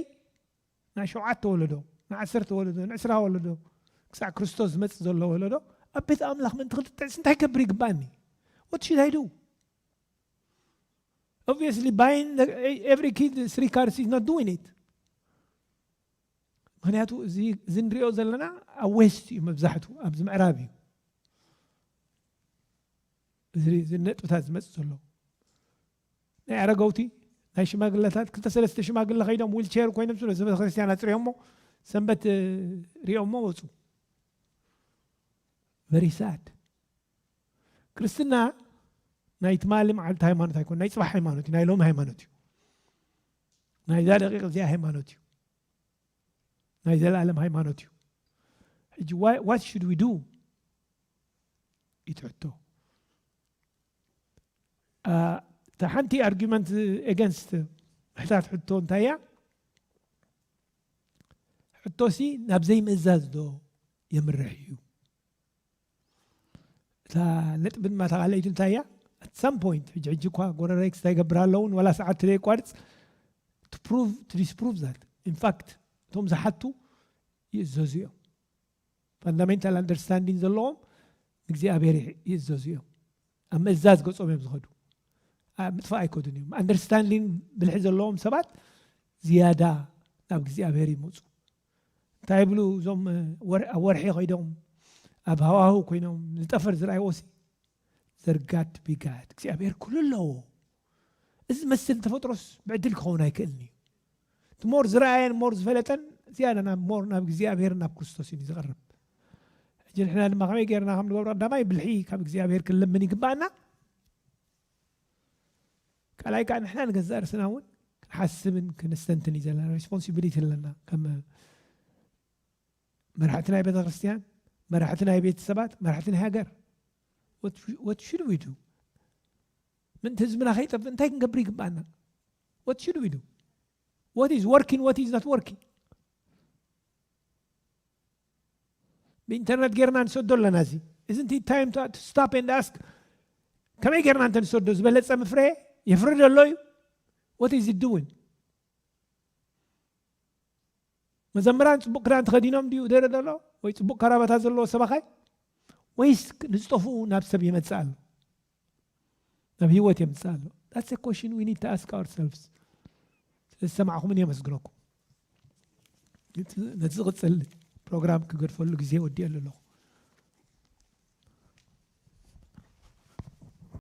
ናይ ሸውዓተ ወለዶ ናይ ዓሰርተ ወለዶ ናይ ዕስራ ወለዶ ክሳዕ ክርስቶስ ዝመፅእ ዘሎ ወለዶ ኣብ ቤት ኣምላኽ ምእንቲ ክልጥዕስ እንታይ ከብር ይግባእኒ ወት ሽድ ኣይዱ obviously buying the, every kid three cars is not doing it ምክንያቱ እዚ እንሪኦ ዘለና ኣብ ዌስት እዩ መብዛሕቱ ኣብዚ ምዕራብ እዩ እዚ ነጥብታት ዝመፅእ ዘሎ ናይ ኣረገውቲ ናይ ሽማግለታት ክልተ ሰለስተ ሽማግለ ከይዶም ዊልቸር ኮይኖም ስለ ቤተ ክርስቲያን ኣፅሪዮሞ ሰንበት ሪኦሞ ወፁ መሪሳድ ክርስትና ናይ ትማሊ መዓልቲ ሃይማኖት ኣይኮን ናይ ፅባሕ ሃይማኖት እዩ ናይ ሎሚ ሃይማኖት እዩ ናይዛ ደቂቕ እዚኣ ሃይማኖት እዩ ናይ ዘለኣለም ሃይማኖት እዩ ሕጂ ዋት ሽድ ዊ ዱ ይትሕቶ እታ ሓንቲ ኣርጊመንት ኤገንስት ምሕታት ሕቶ እንታይ እያ ሕቶሲ ናብ ዘይምእዛዝ ዶ የምርሕ እዩ እታ ነጥቢ ድማ ተቃለይቲ እንታይ እያ ኣት ሳም ፖይንት ሕጂ ሕጂ እኳ ጎረሬክስ እንታይ ይገብር ኣለውን ዋላ ሰዓት ተዘይቋርፅ ፕሩቭ ዲስፕሩቭ ዛት ኢንፋክት እቶም ዝሓቱ ይእዘዙ እዮም ፋንዳሜንታል ኣንደርስታንዲን ዘለዎም ንእግዚኣብሔር ይእዘዙ እዮም ኣብ ምእዛዝ ገጾም እዮም ዝኸዱ ምጥፋእ ኣይከዱን እዮም ኣንደርስታንዲን ብልሒ ዘለዎም ሰባት ዝያዳ ናብ እግዚኣብሔር ይመፁ እንታይ ይብሉ እዞም ኣብ ወርሒ ኮይዶም ኣብ ሃዋህው ኮይኖም ንጠፈር ዝረኣይዎሲ there got to be God እግዚኣብሔር ኩሉ ኣለዎ እዚ ዝመስል ተፈጥሮስ ብዕድል ክኸውን ኣይክእልን እዩ እቲ ሞር ዝረኣየን ሞር ዝፈለጠን ዝያዳ ናብ ሞር ናብ እግዚኣብሔርን ናብ ክርስቶስ እዩ ዝቐርብ ሕጂ ንሕና ድማ ከመይ ገይርና ከም ንገብሮ ቀዳማይ ብልሒ ካብ እግዚኣብሔር ክንልምን ይግባኣና ካልኣይ ከዓ ንሕና ንገዛእ ርስና እውን ክንሓስብን ክንስተንትን እዩ ዘለና ሬስፖንሲቢሊቲ ኣለና ከም መራሕቲ ናይ ቤተክርስትያን መራሕቲ ናይ ቤተሰባት መራሕቲ ናይ ሃገር ወት ሽድ ዊ ዱ ምእንቲ ህዝብና ከይጠፍእ እንታይ ክንገብር ይግባኣና ወት ሽድ ዊ ዱ ወት ኢዝ ወርኪን ወት ኢዝ ኖት ወርኪን ብኢንተርነት ጌርና ንሰዶ ኣለና እዚ እዚ ንቲ ታይም ስታፕ ኤንድ ኣስክ ከመይ ጌርና እንተ ንሰዶ ዝበለፀ ምፍረ የፍርድ ኣሎ እዩ ወት ኢዝ ዱዊን መዘምራን ጽቡቕ ክዳን ተኸዲኖም ድዩ ደረ ዘሎ ወይ ጽቡቕ ካራባታ ዘለዎ ሰባኻይ ወይስ ንዝጠፍኡ ናብ ሰብ የመጽእ ኣሎ ናብ ህይወት የምጽእ ኣሎ ዳትስ አ ኮሽን ዊ ኒድ ቱ ኣስክ ኣወር ሰልፍስ ስለዝሰማዕኹምን የመስግነኩም ነቲ ዝቕፅል ፕሮግራም ክገድፈሉ ግዜ ወዲኤሉ ኣለኹ